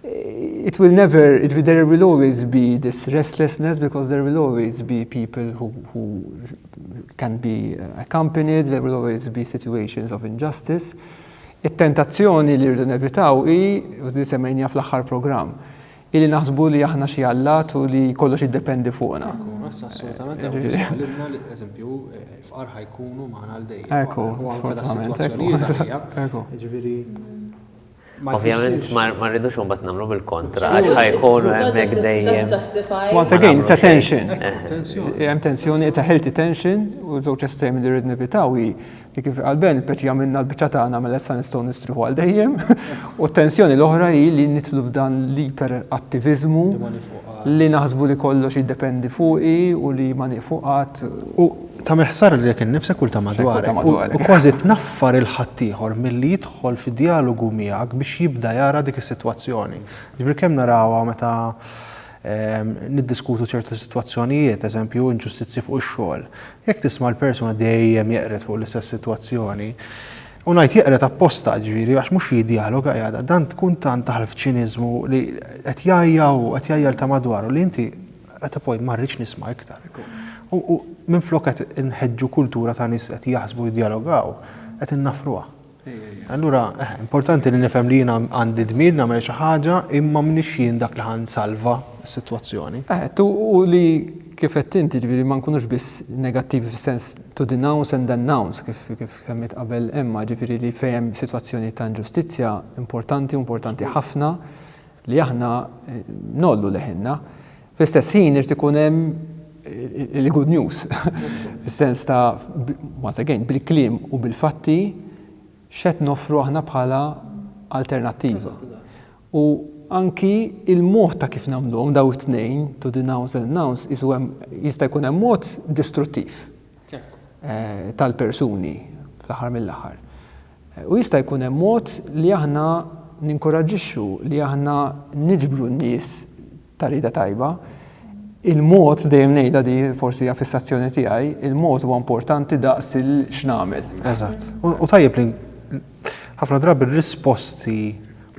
[SPEAKER 2] it will never, it will, there will always be this restlessness because there will always be people who, who can be accompanied, there will always be situations of injustice. It-tentazzjoni li rridu nevitaw hi, u li semmejnija fl-aħħar programm, Illi naħsbu li aħna xi allat u li kollox jiddependi fuqna. Assolutament,
[SPEAKER 4] għalibna li eżempju fqar ħajkunu maħna għal dejjem. Ekku,
[SPEAKER 2] assolutament.
[SPEAKER 4] Ekku. Ġviri,
[SPEAKER 3] Ovvjament ma rridux un bat namlu bil-kontra, għax ħajkun hemmhekk dejjem. Once again, it's
[SPEAKER 2] a tension. Hemm tensjoni, it's a healthy tension, u żewġ estremi li rrid nevitaw hi Li kif qal Ben, il-peċi għamilna l-biċċa tagħna mela issa nistgħu nistrieħu għal dejjem. U t-tensjoni l-oħra hi li nitlu f'dan l-iper attiviżmu li naħsbu li kollox jiddependi fuqi u li ma nieqfu qatt. U ta'
[SPEAKER 4] meħsar li jekk innifsek u ta' madwar. U kważi tnaffar il-ħaddieħor milli jidħol fi djalogu miegħek biex jibda jara dik is-sitwazzjoni. Ġifieri kemm narawha meta Niddiskutu ċertu sitwazzjonijiet, eżempju, inġustizzji fuq ix-xogħol. Jekk tisma' l-persuna dejjem jeqred fuq l-istess sitwazzjoni, u ngħid jeqred apposta, ġifieri, għax mhux jiddjaloga, jgħidha, dan tkun tant daħal f'ċiniżmu li qed jgħajja hu, qed jgħajja lil ta' madwaru li inti, at a point, ma rridx nisma' iktar. U minflok qed inħeġġu kultura ta' nies qed jaħsbu jiddjalogaw, qed innaffruha. Allura, importanti li nifhem li jiena għandi dmir nagħmel xi ħaġa imma m'iniex jien dak li ħa nsalva s-sitwazzjoni. Għedt, u li
[SPEAKER 2] kif għedt inti, jiġifieri ma nkunux biss negattivi fis-sens to denounce and announce kif semmiet qabel Emma, jiġifieri li fejn hemm sitwazzjoni ta' inġustizzja importanti u importanti ħafna li aħna ngħollu leħinna. Fl-istess ħin irid ikun hemm il-good news, is-sens ta' once again bil-kliem u bil-fatti x'qed noffru aħna bħala alternattiva. U anki il-mod ta' kif nagħmluhom daw it-tnejn to denounce and announce isu hemm jista' jkun hemm mod distruttiv eh, tal-persuni fl-aħħar mill-aħħar. U jista' jkun hemm mod li aħna ninkoraġġixxu li aħna niġbru n-nies ta' rieda tajba. Il-mod, dejjem ngħidha di, forsi hija fissazzjoni tiegħi, il-mod huwa importanti daqs il-x'nagħmel. Eżatt. U
[SPEAKER 4] tajjeb li ħafna drabi r-risposti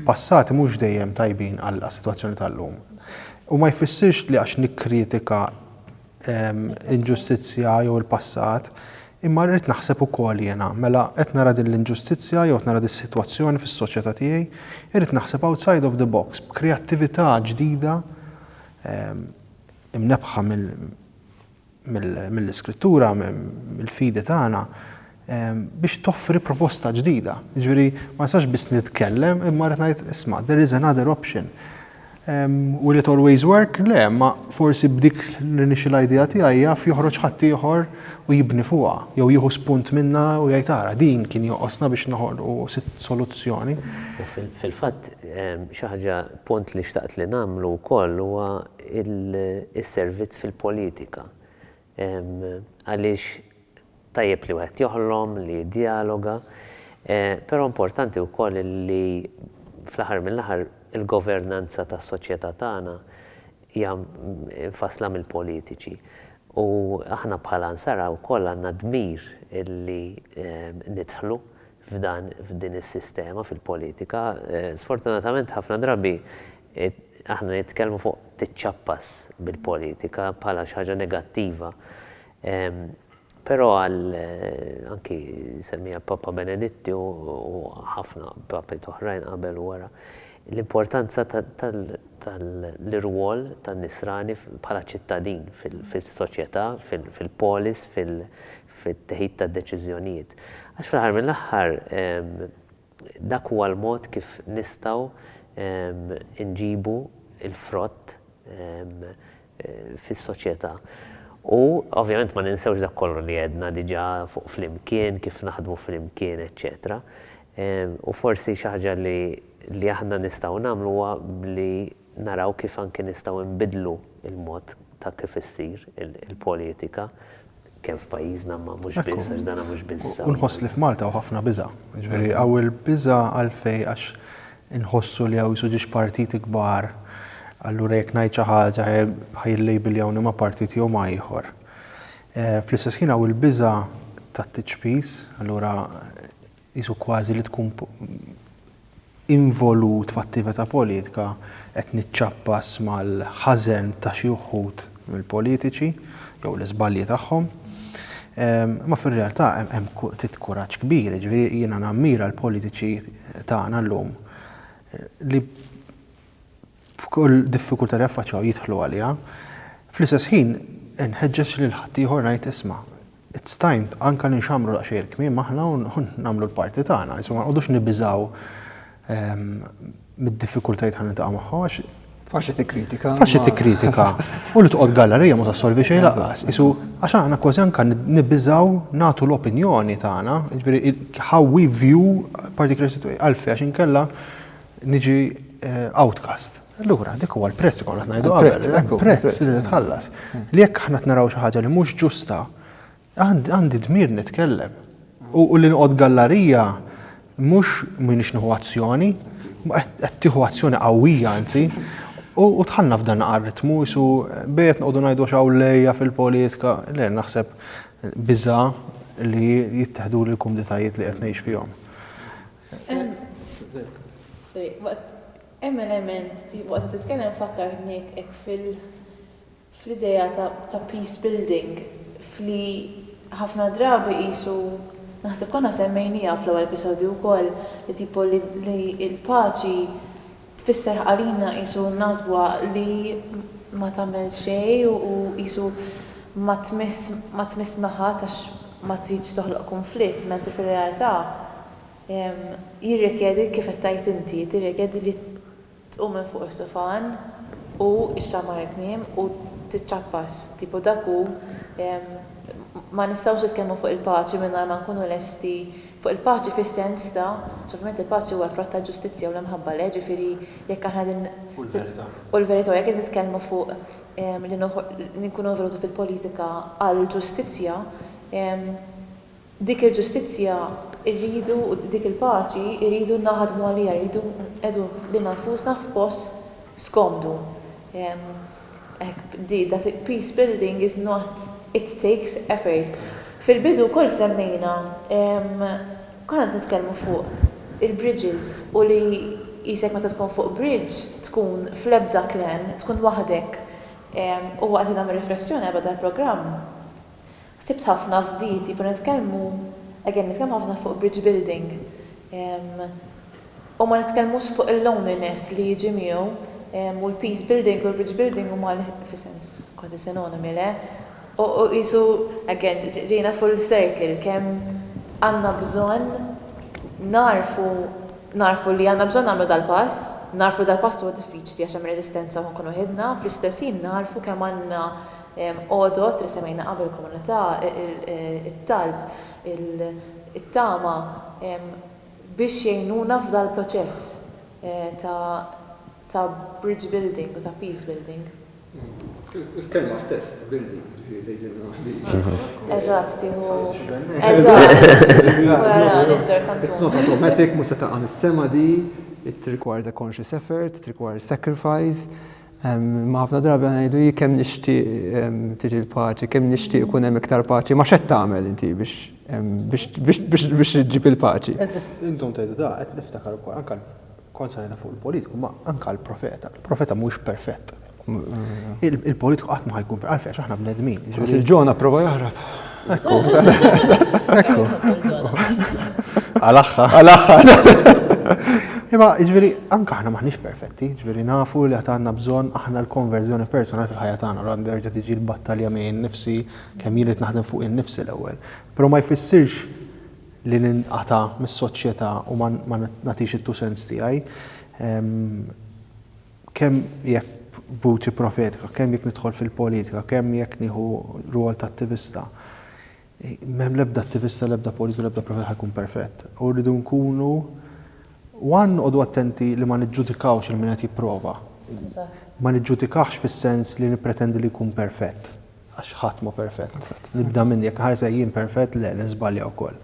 [SPEAKER 4] passati mhux dejjem tajbin għas-sitwazzjoni tal-lum. U ma jfissirx li għax nikkritika l-inġustizzja jew il-passat, Imma rrid naħseb ukoll jiena, mela qed nara din l-inġustizzja jew qed nara dis-sitwazzjoni fis-soċjetà tiegħi, irrid naħseb outside of the box, b'kreattività ġdida imnebbħa mill-Iskrittura, mill-fidi tagħna, biex toffri proposta ġdida. Jiġifieri ma nistax biss nitkellem imma rrid ngħid, isma', there is another option. Will it always work? Le, imma forsi b'dik l-initial idea tiegħi jaf joħroġ ħaddieħor u jibni fuqha, jew jieħu spunt minnha u jgħid ara din kien joqosna biex noħolqu soluzzjoni. U
[SPEAKER 3] fil-fatt xi ħaġa punt li xtaqt li nagħmlu wkoll huwa s-servizz fil-politika. Għaliex tajjeb li wieħed joħlom, li jiddijaloga, però importanti wkoll li fl-aħħar mill-aħħar il-governanza tas-soċjetà tagħna hija mfassla mill-politiċi. U aħna bħala Ansara wkoll għandna d-dmir li nidħlu f'dan, f'din is-sistema, fil-politika, sfortunatament ħafna drabi aħna nitkellmu fuq tiċċappas bil-politika bħala xi ħaġa negattiva. Però għal anki semmija Papa Benedetti u ħafna papi toħrajn qabel u wara l-importanza tal-irwol tan-nisrani bħala ċittadin fis-soċjetà, fil-polis, fit-teħid ta' deċiżjonijiet. Għax fl-aħħar mill-aħħar dak huwa l-mod kif nistgħu nġibu l-frott fis-soċjetà. U ovvjament ma ninsewx dak kollu li għedna diġà fuq flimkien, kif naħdmu flimkien, eċċetera. U forsi xi ħaġa li aħna nistgħu nagħmlu huwa li naraw kif anki nistgħu nbiddlu l-mod ta' kif issir il-politika kemm f'pajjiżna imma mhux biss għax dan mhux biss. U nħoss li f'Malta hawn
[SPEAKER 4] ħafna biża'. Jiġifieri hawn il-biża' għalfejn għax inħossu li hawn qisu ġiex partiti kbar allura jekk ngħid xi ħaġa ħa jillejbiljawni ma' partit jew ma' ieħor. Fl-istess ħin hawn il-biża' tat-tiċpis allura qisu kważi li tkun involut f'attività politika, qed niċċappas mal-ħażen ta' xi wħud mill-politiċi jew l-iżbalji tagħhom. Imma fir-realtà hemm ftit kuraġġ kbir, jiġifieri jiena nammira l-politiċi tagħna llum li b'kull diffikultà li jaffaċċjaw jidħlu għaliha. Fl-istess ħin inħeġġeġ lil ħaddieħor ngħid isma', it's time anke li nxammru daqsxejn il-kmiem aħna u nagħmlu l-parti tagħna, insomma ma nqogħdux nibiżgħu mid-diffikultajiet ħalli niltaqgħu magħhom għax Faċli tikkritika.
[SPEAKER 2] Faċli tikkritika.
[SPEAKER 4] U li toqgħod gallerija ma tassolvi xejn laqas. Isu għax aħna kważi anke nibbiżgħu nagħtu l-opinjoni tagħna, jiġifieri how we view particular situation għalfejn għax inkella niġi outcast. Allura, dik huwa l-prezz konna ngħidu qabel, prezz li tħallas. Li jekk aħna naraw xi ħaġa li mhux ġusta, għandi dmir nitkellem. U li nqod gallarija mhux minix nieħu azzjoni, qed tieħu azzjoni qawwija anzi, u tħallna f'dan ritmu su bejt nqogħdu ngħidu xaw lejja fil-politika, le naħseb biża li jittieħdu l-kumditajiet li qed ngħix fihom.
[SPEAKER 1] Hemm element, waqt li titkellem fakkartni hekk fl-idea ta' peace building f'li ħafna drabi qisu, naħseb konna semmejnieha fl-ewwel episodju wkoll, li tipo li l-paċi tfisser għalina qisu naħsbuha li ma tagħmel xejn u qisu ma tmiss ma tmiss maħadd għax ma tridx toħloq kunflitt, mentri fir-realtà jirrikjedi kif qed tgħid inti, tirrikjedi li tqum minn fuq is-sufan u xxammar il-kmiem u tiċċappas, tipo dak hu ma nistgħux nitkellmu fuq il-paċi mingħajr ma nkunu lesti Fuq il-paċi fis-sens ta', għax ovvjament il-paċi huwa l-frott tal-ġustizzja u l-imħabba lejh, ġifieri jekk aħna qegħdin. U l-verità. U l-verità, u jekk qed nitkellmu fuq li nkunu involuti fil-politika għall-ġustizzja, dik il-ġustizzja rridu, u dik il-paċi rridu naħdmu għaliha, rridu nqiegħdu lilna nfusna f'post skomdu. Hekk bdiet dat it peace building is not it takes effort. Fil bidu wkoll semmejna konna qed nitkellmu fuq il bridges u li qisek meta tkun fuq bridge tkun fl-ebda clan tkun waħdek u waqt li nagħmel riflessjoni għal bda l-programm Ħsibt ħafna f'di tipo nitkellmu again nitkellmu ħafna fuq bridge building u ma nitkellmux fuq il-loneliness li jiġi miegħu u l-peace building u l-bridge building huma fi sens kważi sinonimi le? U qisu again ġejna full circle kemm għandna bżonn nagħrfu nagħrfu li għandna bżonn nagħmlu dal-pass, nagħrfu li dal-pass huwa diffiċli għax hemm reżistenza u nkunu waħidna, fl-istess ħin nagħrfu kemm għandna għodod li semmejna qabel, komunità, it-talb, it-tama, biex jgħinuna f'dal-proċess ta' bridge building u ta' peace building.
[SPEAKER 2] Il-kelma stess, building, ġifieri
[SPEAKER 1] tgħidilna ħlief. Eżatt, tieħu. Eżatt.
[SPEAKER 2] It's not automatic, mhux se taqa' mis-sema di, it requires a conscious effort, it requires sacrifice, Imma ħafna drabi ngħidu kemm nixtieq tiġi l-paċi, kemm nixtieq ikun hemm iktar paċi, ma xed tagħmel inti biex ġib il-paċi. Intom tgħidu da,
[SPEAKER 4] qed niftakar ukoll anke kont sajna fuq il-politiku, ma anke l-profeta. Il-profeta mhuwiex perfett. Il-politiku qatt ma ħajkun perfett, għalfejn aħna bnedmin. Biss il-ġona prova
[SPEAKER 2] jaħrab.
[SPEAKER 4] Ekku. Għal-axħa. Għal-axħa. Imma, ġveri, anka ħna maħnix perfetti, ġveri nafu li għatanna bżon aħna l-konverżjoni personali fil-ħajja tagħna, għal nerġa' tiġi l-battalja minn nifsi kemm jien qed naħdem fuq in-nifsi l-ewwel. Però ma jfissirx li ninqata' mis-soċjetà u ma nagħtix it-two cents tiegħi. Ehm, Kemm jekk vuċi profetika, kemm jekk nidħol fil-politika, kemm jekk nieħu rwol ta' attivista, m'hemm l-ebda attivista, l-ebda politiku, l-ebda profet ħajkun perfett. U rridu nkunu one noqogħdu attenti li ma niġġudikawx il min qed jipprova. Ma niġġudikahx fis-sens li nippretendi li jkun perfett. Għax ħadd mhu perfett. Nibda minn jekk ħares lejn jien perfett, le niżbalja wkoll.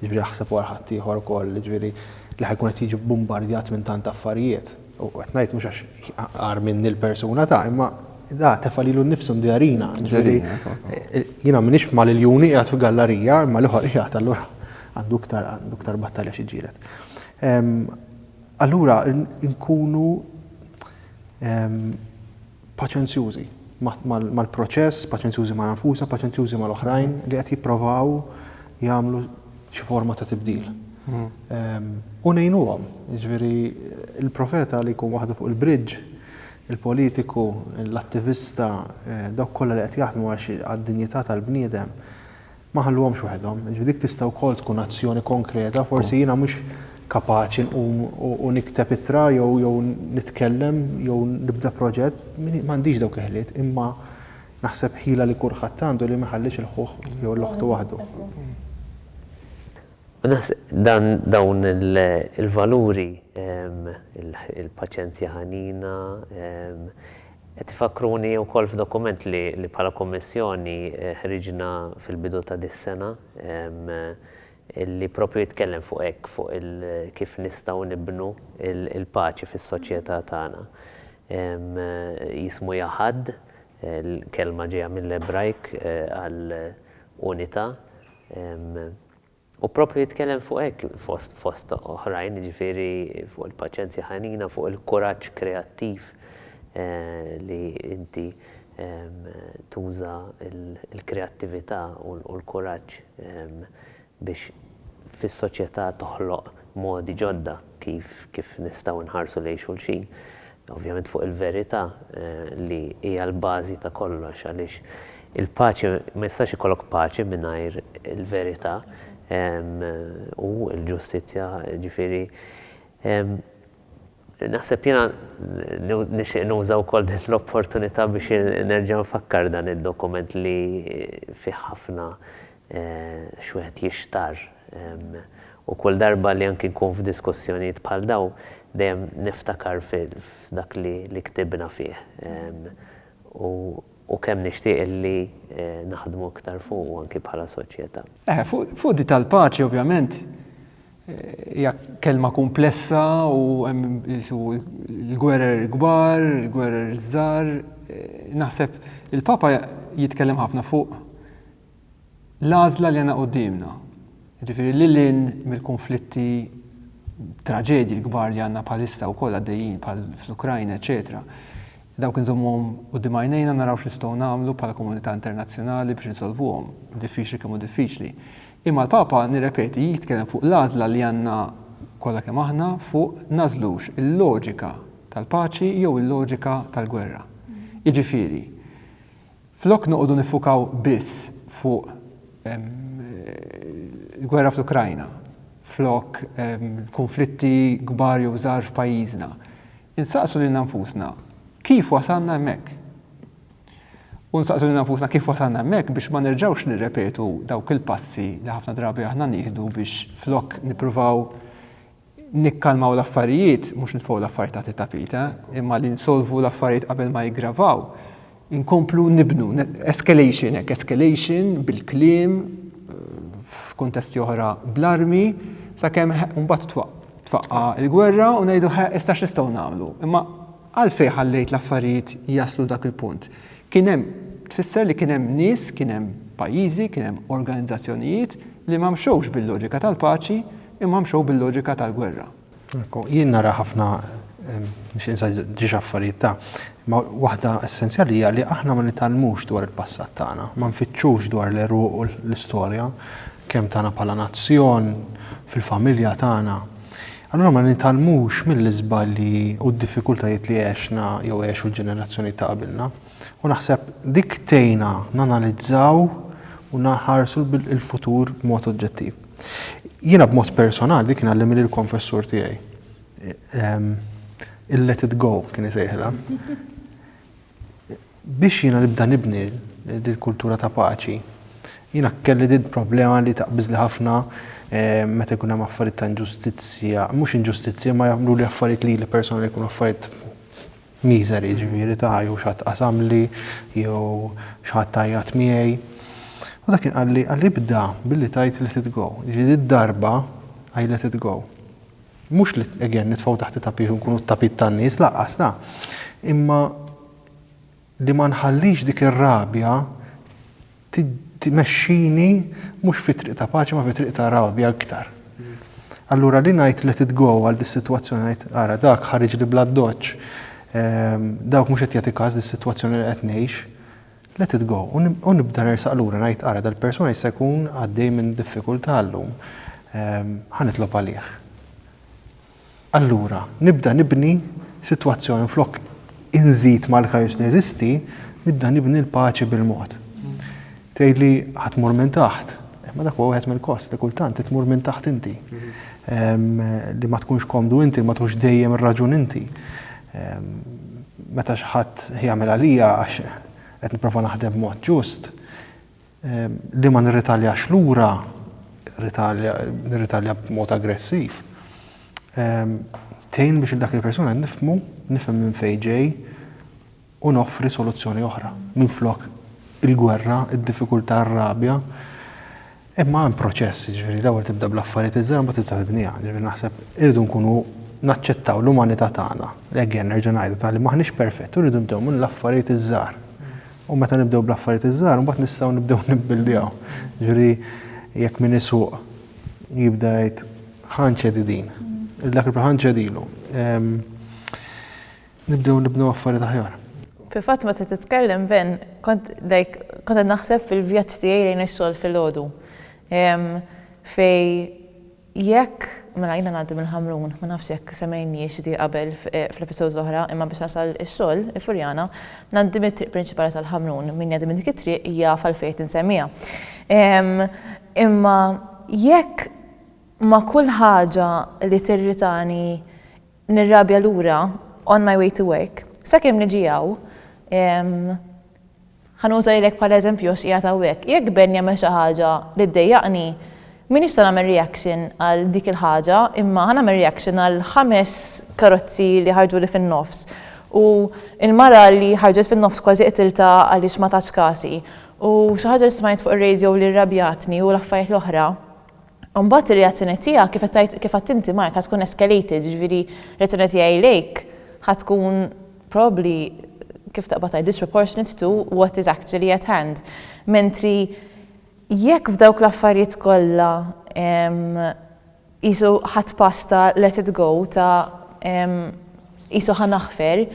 [SPEAKER 4] Jiġifieri aħseb wara ħaddieħor ukoll, jiġifieri li ħajkun qed jiġi bbumbardjat minn tant affarijiet. U qed ngħid mhux għax agħar minni l-persuna ta' imma da tefa' lilu nnifsu ndjarina. Jiena m'iniex ma' l-juni qiegħed fil-gallarija imma l-ieħor qiegħed allura għandu iktar għandu iktar battalja xi ġġieled. Allura nkunu paċenzjużi mal-proċess, paċenzjużi ma' nfusna, paċenzjużi mal-oħrajn li qed jipprovaw jagħmlu xi forma ta' tibdil. U ngħinuhom, jiġifieri l-profeta li jkun waħdu fuq il-bridge, il-politiku, l-attivista, dawk kollha li qed jaħdmu għax għad-dinjità tal-bniedem, Ma ħalluhomx waħedhom. Jiġifieri dik tista' wkoll tkun azzjoni konkreta, forsi jiena mhux kapaċi nqum u nikteb ittra jew jew nitkellem jew nibda proġett, m'għandix dawk il-ħiliet, imma naħseb ħila li kulħadd għandu li ma jħallix lil ħuh jew lil oħtu waħdu. U
[SPEAKER 3] naħseb dan dawn il-valuri, il-paċenzja ħanina, Qed ifakkruni wkoll f'dokument li bħala Kummissjoni ħriġna fil-bidu ta' dis-sena li proprju jitkellem fuq hekk, fuq kif nistgħu nibnu l-paċi fis-soċjetà tagħna. Jismu Yahad, l-kelma ġejja mill-Ebrajk għal unità. U proprju jitkellem fuq hekk fost fost oħrajn, jiġifieri fuq il-paċenzja ħanina, fuq il-kuraġġ kreattiv li inti tuża l-kreattività u l-kuraġġ biex fis-soċjetà toħloq modi ġodda kif kif nistgħu nħarsu lejn xulxin. ovvjament fuq il-verità li hija l-bażi ta' kollox għaliex il-paċi ma jistax ikollok paċi mingħajr il-verità u l-ġustizzja ġifieri naħseb jiena nixtieq nuża wkoll din l-opportunità biex nerġa' nfakkar dan id-dokument li fih ħafna x'wieħed jixtarr. U kull darba li anki nkun f'diskussjonijiet bħal dawn, dejjem niftakar f'dak li ktibna fih u kemm nixtieq li naħdmu iktar fuqu anki bħala soċjetà. Eħe, fuq din
[SPEAKER 2] tal-paċi ovvjament hija kelma kumplessa u hemm il-gwerer il-kbar, il-gwerer iż-żgħar. Naħseb il-Papa jitkellem ħafna fuq l-għażla li għandna quddiemna, jiġifieri lil hinn mill-kunflitti, traġedji l-kbar li għandna bħalissa wkoll għaddejjin bħal fl-Ukrajna, eċċetera, dawk inżommuhom quddiem għajnejna naraw x'nistgħu nagħmlu bħala komunità internazzjonali biex insolvuhom, diffiċli kemm hu diffiċli. Imma l-Papa, nirrepeti, jitkellem fuq l-għażla li għandna kollha kemm aħna fuq nagħżlux il-loġika tal-paċi jew il-loġika tal-gwerra. Jiġifieri, Flok noqogħdu niffukaw biss fuq il-gwerra fl-Ukrajna, flok kunflitti kbar jew żgħar f'pajjiżna, insaqsu lilna nfusna kif wasalna hemmhekk? U nsaqsu lilna nfusna kif wasalna hemmhekk biex ma nerġgħux nirrepetu dawk il-passi li ħafna drabi aħna nieħdu biex flok nippruvaw nikkalmaw l-affarijiet, mhux nitfgħu l-affarijiet taħt it-tapit, imma li nsolvu l-affarijiet qabel ma jiggravaw, inkomplu nibnu, escalation hekk, escalation bil-kliem, f'kuntesti oħra bl-armi, sakemm mbagħad twaqqa' l-gwerra u ngħidu ħa issa x'nistgħu nagħmlu. Imma għalfejn ħallejt l-affarijiet jaslu dak il-punt? Kien hemm tfisser li kien hemm nies, kien hemm pajjiżi, kien hemm organizzazzjonijiet li ma mxewx bil-loġika tal-paċi, Imma mxew bil-loġika tal-gwerra. Ekku, jien nara
[SPEAKER 4] ħafna biex insa ġiex affarijiet ta' ma waħda essenzjali hija li aħna ma nitgħallmux dwar il-passat tagħna, ma nfittxux dwar l-eruq u l-istorja kemm tagħna bħala nazzjon, fil-familja tagħna. Allura ma nitgħallmux mill-iżbalji u d-diffikultajiet li għexna jew għexu l-ġenerazzjoni ta' qabilna. U naħseb dik tejna nanalizzaw u naħarsu il-futur b'mod oġġettiv. Jiena b'mod personali dik kien għallimni l-konfessur tiegħi. Ehm, il-let it go kien isejħilha. Biex jiena nibda nibni l-kultura ta' paċi, jiena kelli din problema li taqbiżli ħafna eh, meta jkun hemm affarijiet ta' inġustizzja, mhux inġustizzja ma jagħmlu li affarijiet li personali jkunu affarijiet Miżeri, jiġifieri ta' jew xi ħadd qasamli, jew xi ħadd għajjat miegħi. U dak kien qalli, qalli ibda billi tgħid let it go. Jiġifieri did-darba I let it go. Mhux li again nitfgħu taħt it-tapit u nkunu t-tapit tan-nies, lanqas la. Imma li ma nħallix dik ir-rabja tmexxini mhux fi triq ta' paċi ma fi triq ta' rabja iktar. Allura li ngħid let it go għal dis-sitwazzjoni ngħid ara dak ħariġli bl-addoċċ, ehm, dawk mhux qed jagħti każ dis-sitwazzjoni li qed ngħix, let it go u nibda nersaq lura ngħid ara dal-persuna jista' jkun għaddej minn diffikultà llum, ehm, ħa nitlob għalih. Allura, nibda nibni sitwazzjoni flok inżid mal-kaos li jeżisti, nibda nibni l-paċi bil-mod. Tgħidli ħa tmur minn taħt, imma dak huwa wieħed mill-kost li kultant tmur minn taħt inti. Li ma tkunx komdu inti, ma tkunx dejjem ir-raġun inti. Meta xi ħadd jagħmel għalija għax qed nipprova naħdem b'mod ġust, Li ma nirritaljax lura, nirritalja b'mod aggressiv, tgħin biex lil dak il-persuna nifhmu, nifhem minn fejn ġej u noffri soluzzjoni oħra. Minflok il-gwerra, id-diffikultà, r-rabja. Imma hemm proċess, jiġifieri l-ewwel tibda bl-affarijiet iż-żgħar imbagħad tibda tibniha. Jiġifieri naħseb irridu nkunu naċċettaw l-umanità tagħna. Again, nerġa' ngħidha, li m'aħniex perfetti u rridu nibdew mill-affarijiet iż-żgħar. U meta nibdew bl-affarijiet iż-żgħar, imbagħad nistgħu nibdew nibbuildjaw. Ġifieri jekk min isuq jibda jgħid ħanċedi din, il dak il ħanċedilu. Nibdew nibnu affarijiet aħjar. Fil-fatt meta
[SPEAKER 1] titkellem Ben, kont like kont naħseb fil-vjaġġ tiegħi lejn ix-xogħol filgħodu. Fej Jekk, mela jiena ngħaddi mill-Ħamrun, ma nafx jekk semmejnihiex di qabel fl-episodes l-oħra, imma biex nasal ix-xogħol, il-Furjana, ngħaddi mit-triq prinċipali tal-Ħamrun. Min jgħaddi minn dik it-triq jaf għalfejn qed insemmiha. Imma jekk ma' kull ħaġa li tirritani nirrabja lura on my way to work, sakemm niġi hawn, ħa nuża lilek bħala eżempju għax qiegħed hawnhekk, jekk Ben jagħmel xi ħaġa li ddejjaqni, m'iniex se nagħmel reaction għal dik il-ħaġa imma ħa nagħmel reaction għal ħames karozzi li ħarġuli fin-nofs u l-mara li ħarġet fin-nofs kważi qtiltha għaliex ma tatx kasi u xi ħaġa li smajt fuq ir-radio li rrabjatni u l-affarijiet l-oħra. U mbagħad ir-reazzjoni tiegħek kif qed tgħid kif għedt inti Mark ħa tkun escalated, jiġifieri r-reazzjoni tiegħi lejk ħa tkun probably kif taqbad tgħid disproportionate to what is actually at hand. Mentri jekk f'dawk l-affarijiet kollha qisu ħadt pass ta' let it go ta' qisu ħa naħfer,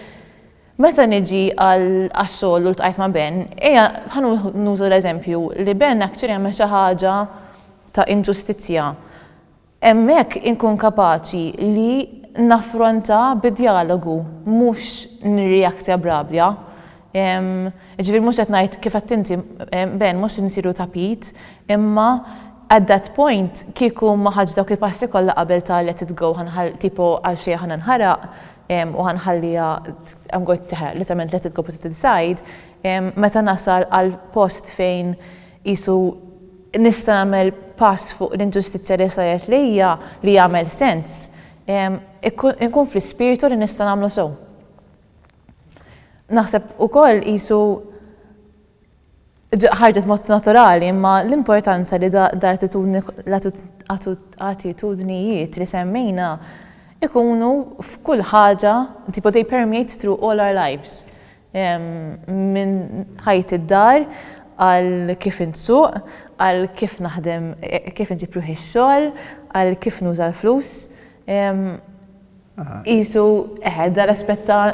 [SPEAKER 1] Meta niġi għax-xogħol u ltqajt ma' Ben, ejja ħa nuża l-eżempju li Ben actually għamel xi ħaġa ta' inġustizzja. Hemmhekk inkun kapaċi li naffronta bi djalogu, mhux nirreact a b'rabja. Jiġifieri mhux qed ngħid kif għedt inti Ben, mhux insiru tapit, imma at that point kieku ma ħadx dawk il-passi kollha qabel ta' let it go, tipo għalxejn ħa ninħaraq, u ħa nħalliha I'm going to literalment let it go put it inside, meta nasal għal post fejn qisu nista' nagħmel pass fuq l-inġustizzja li saret lejja li jagħmel sens, inkun fl-ispirtu li nista' nagħmlu sew. Naħseb ukoll qisu ħarġet mod naturali imma l-importanza li dal-attitudnijiet li semmejna jkunu f'kull ħaġa, tipo they permeate through all our lives, minn ħajt id-dar għal kif insuq, għal kif naħdem, kif inġib ruħi x-xogħol, għal kif nuża l-flus. Qisu, eħe, dan l-aspett ta'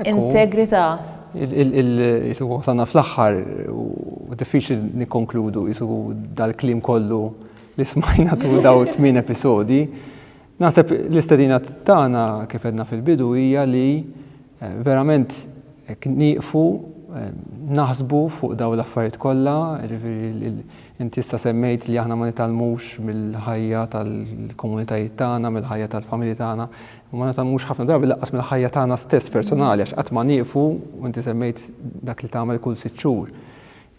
[SPEAKER 1] integrità.
[SPEAKER 2] Qisu wasalna fl-aħħar u diffiċli nikkonkludu qisu dal-kliem kollu li smajna tul dawn it-tmien episodji. Naħseb l-istedina tagħna kif għedna fil-bidu hija li verament nieqfu naħsbu fuq dawn l-affarijiet kollha, jiġifieri Inti issa semmejt li aħna ma nitgħallmux mill-ħajja tal-komunitajiet tagħna, mill-ħajja tal-familji tagħna, imma ma nitgħallmux ħafna drabi lanqas mill-ħajja tagħna stess personali għax qatt ma nieqfu, u inti semmejt dak li tagħmel kull sitt xhur.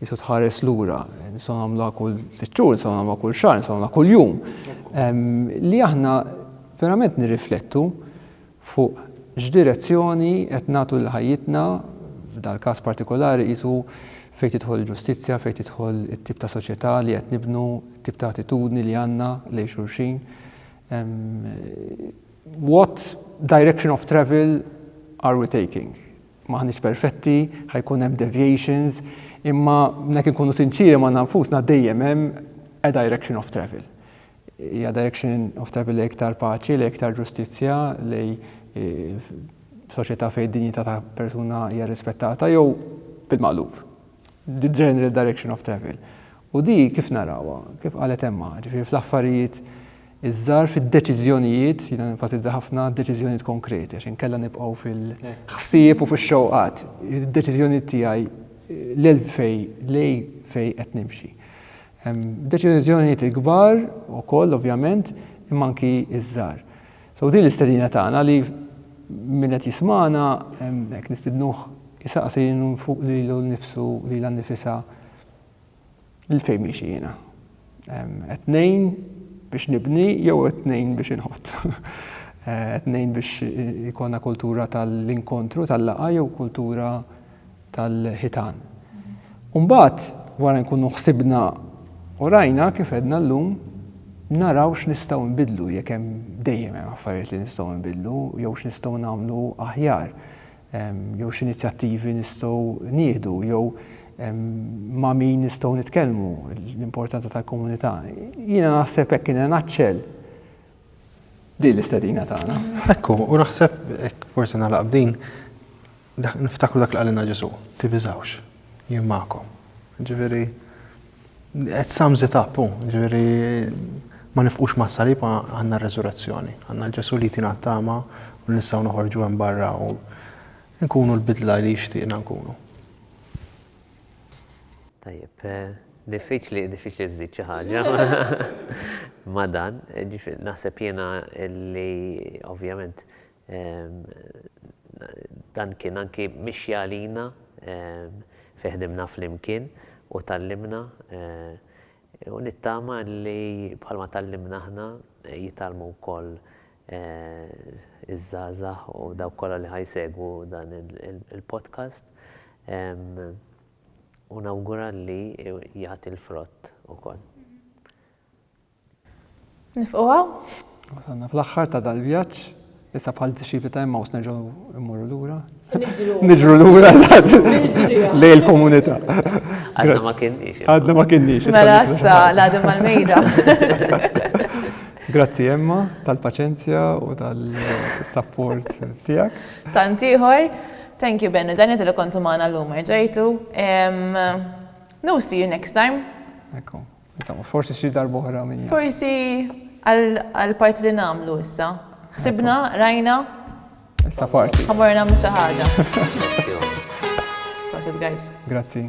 [SPEAKER 2] Qisu tħares lura, nistgħu nagħmluha kull sitt xhur, nistgħu nagħmluha kull xahar, nistgħu nagħmluha kuljum. Li aħna verament nirriflettu Fuq x'direzzjoni qed nagħtu lil ħajjitna, f'dal-każ partikolari qisu fejn tidħol il-ġustizzja, fejn tidħol it-tip ta' soċjetà li qed nibnu, it-tip ta' attitudni li għandna lejn xulxin. What direction of travel are we taking? M'aħniex perfetti, ħa jkun hemm deviations, imma jekk inkunu sinċieri magħna nfusna dejjem hemm a direction of travel. Hija direction of travel lejn iktar paċi, lejn iktar ġustizzja, lejn soċjetà fejn id-dinjità ta' persuna hija rrispettata jew bil-maqlub. The general direction of travel. U di kif narawha, kif qalet Emma, ġifieri fl-affarijiet iż-żgħar fid-deċiżjonijiet, jiena nenfasizza ħafna deċiżjonijiet konkreti għax inkella nibqgħu fil-ħsieb u fix-xewqat. Id-deċiżjonijiet tiegħi lil fejn lejn fejn qed nimxi. Hemm deċiżjonijiet il-kbar ukoll ovvjament, imma anki ż-żgħar. So din l-istedina tagħna li min qed jismagħna hekk nistidnuh isaqsi fuq lilu nnifsu lilha nnifisha lil fejn miexi jiena. Qed ngħin biex nibni jew qed ngħin biex inħott. Qed ngħin biex ikollna kultura tal-inkontru tal-laqgħa jew kultura tal-ħitan. U mbagħad wara nkunu ħsibna u rajna kif għedna llum naraw x'nistgħu nbiddlu jekk hemm dejjem hemm affarijiet li nistgħu nbiddlu jew x'nistgħu nagħmlu aħjar jew x'inizjattivi nistgħu nieħdu jew ma' min nistgħu nitkellmu l-importanza tal-komunità. Jiena naħseb hekk kien naċċel din l-istedina tagħna. Ekku, u naħseb
[SPEAKER 4] forsi nagħlaq b'din Dak, niftakru dak li qalilna Ġesu, tiviżawx, jien magħkom. Ġifieri, it sums it up, ġifieri, ma nifqux ma' salib għandna r-resurrezzjoni, għandna l-Ġesu li tina tama u nistgħu noħorġu hemm barra u nkunu l-bidla li jixtieqna nkunu.
[SPEAKER 3] Tajjeb, eh, diffiċli, diffiċli żżid xi ħaġa. Ma dan, naħseb jiena li ovvjament Dan kien anki mixja għalina fejn ħdimna flimkien u tgħallimna u nittama li bħalma tgħallimna aħna jitgħallmu wkoll iż-żgħażagħ u dawk kollha li ħa jsegwu dan il-podcast u nawgura li jagħti l-frott ukoll.
[SPEAKER 1] Nifqu hawn? Wasalna
[SPEAKER 2] fl-aħħar ta' dal-vjaġġ, issa bħal disċipli ta' Emmaus nerġgħu immorru lura. Niġru lura lej il-komunità. Għadna ma
[SPEAKER 3] kienniex. Għadna ma kienniex.
[SPEAKER 2] Mela issa l-għadem
[SPEAKER 1] mal-mejda.
[SPEAKER 2] Grazzi Emma tal-paċenzja u tal-support tiegħek. Tantiħor.
[SPEAKER 1] Thank you Benny, dan jgħid li kontu magħna l-lum ġejtu. No see you next time. Ekku.
[SPEAKER 2] Insomma, forsi xi darb'oħra min jaf. Forsi
[SPEAKER 1] għall-parti li nagħmlu issa. Ħsibna, rajna. Issa parti. Ħamor nagħmlu xi
[SPEAKER 2] ħaġa. Prosit
[SPEAKER 1] guys. Grazzi.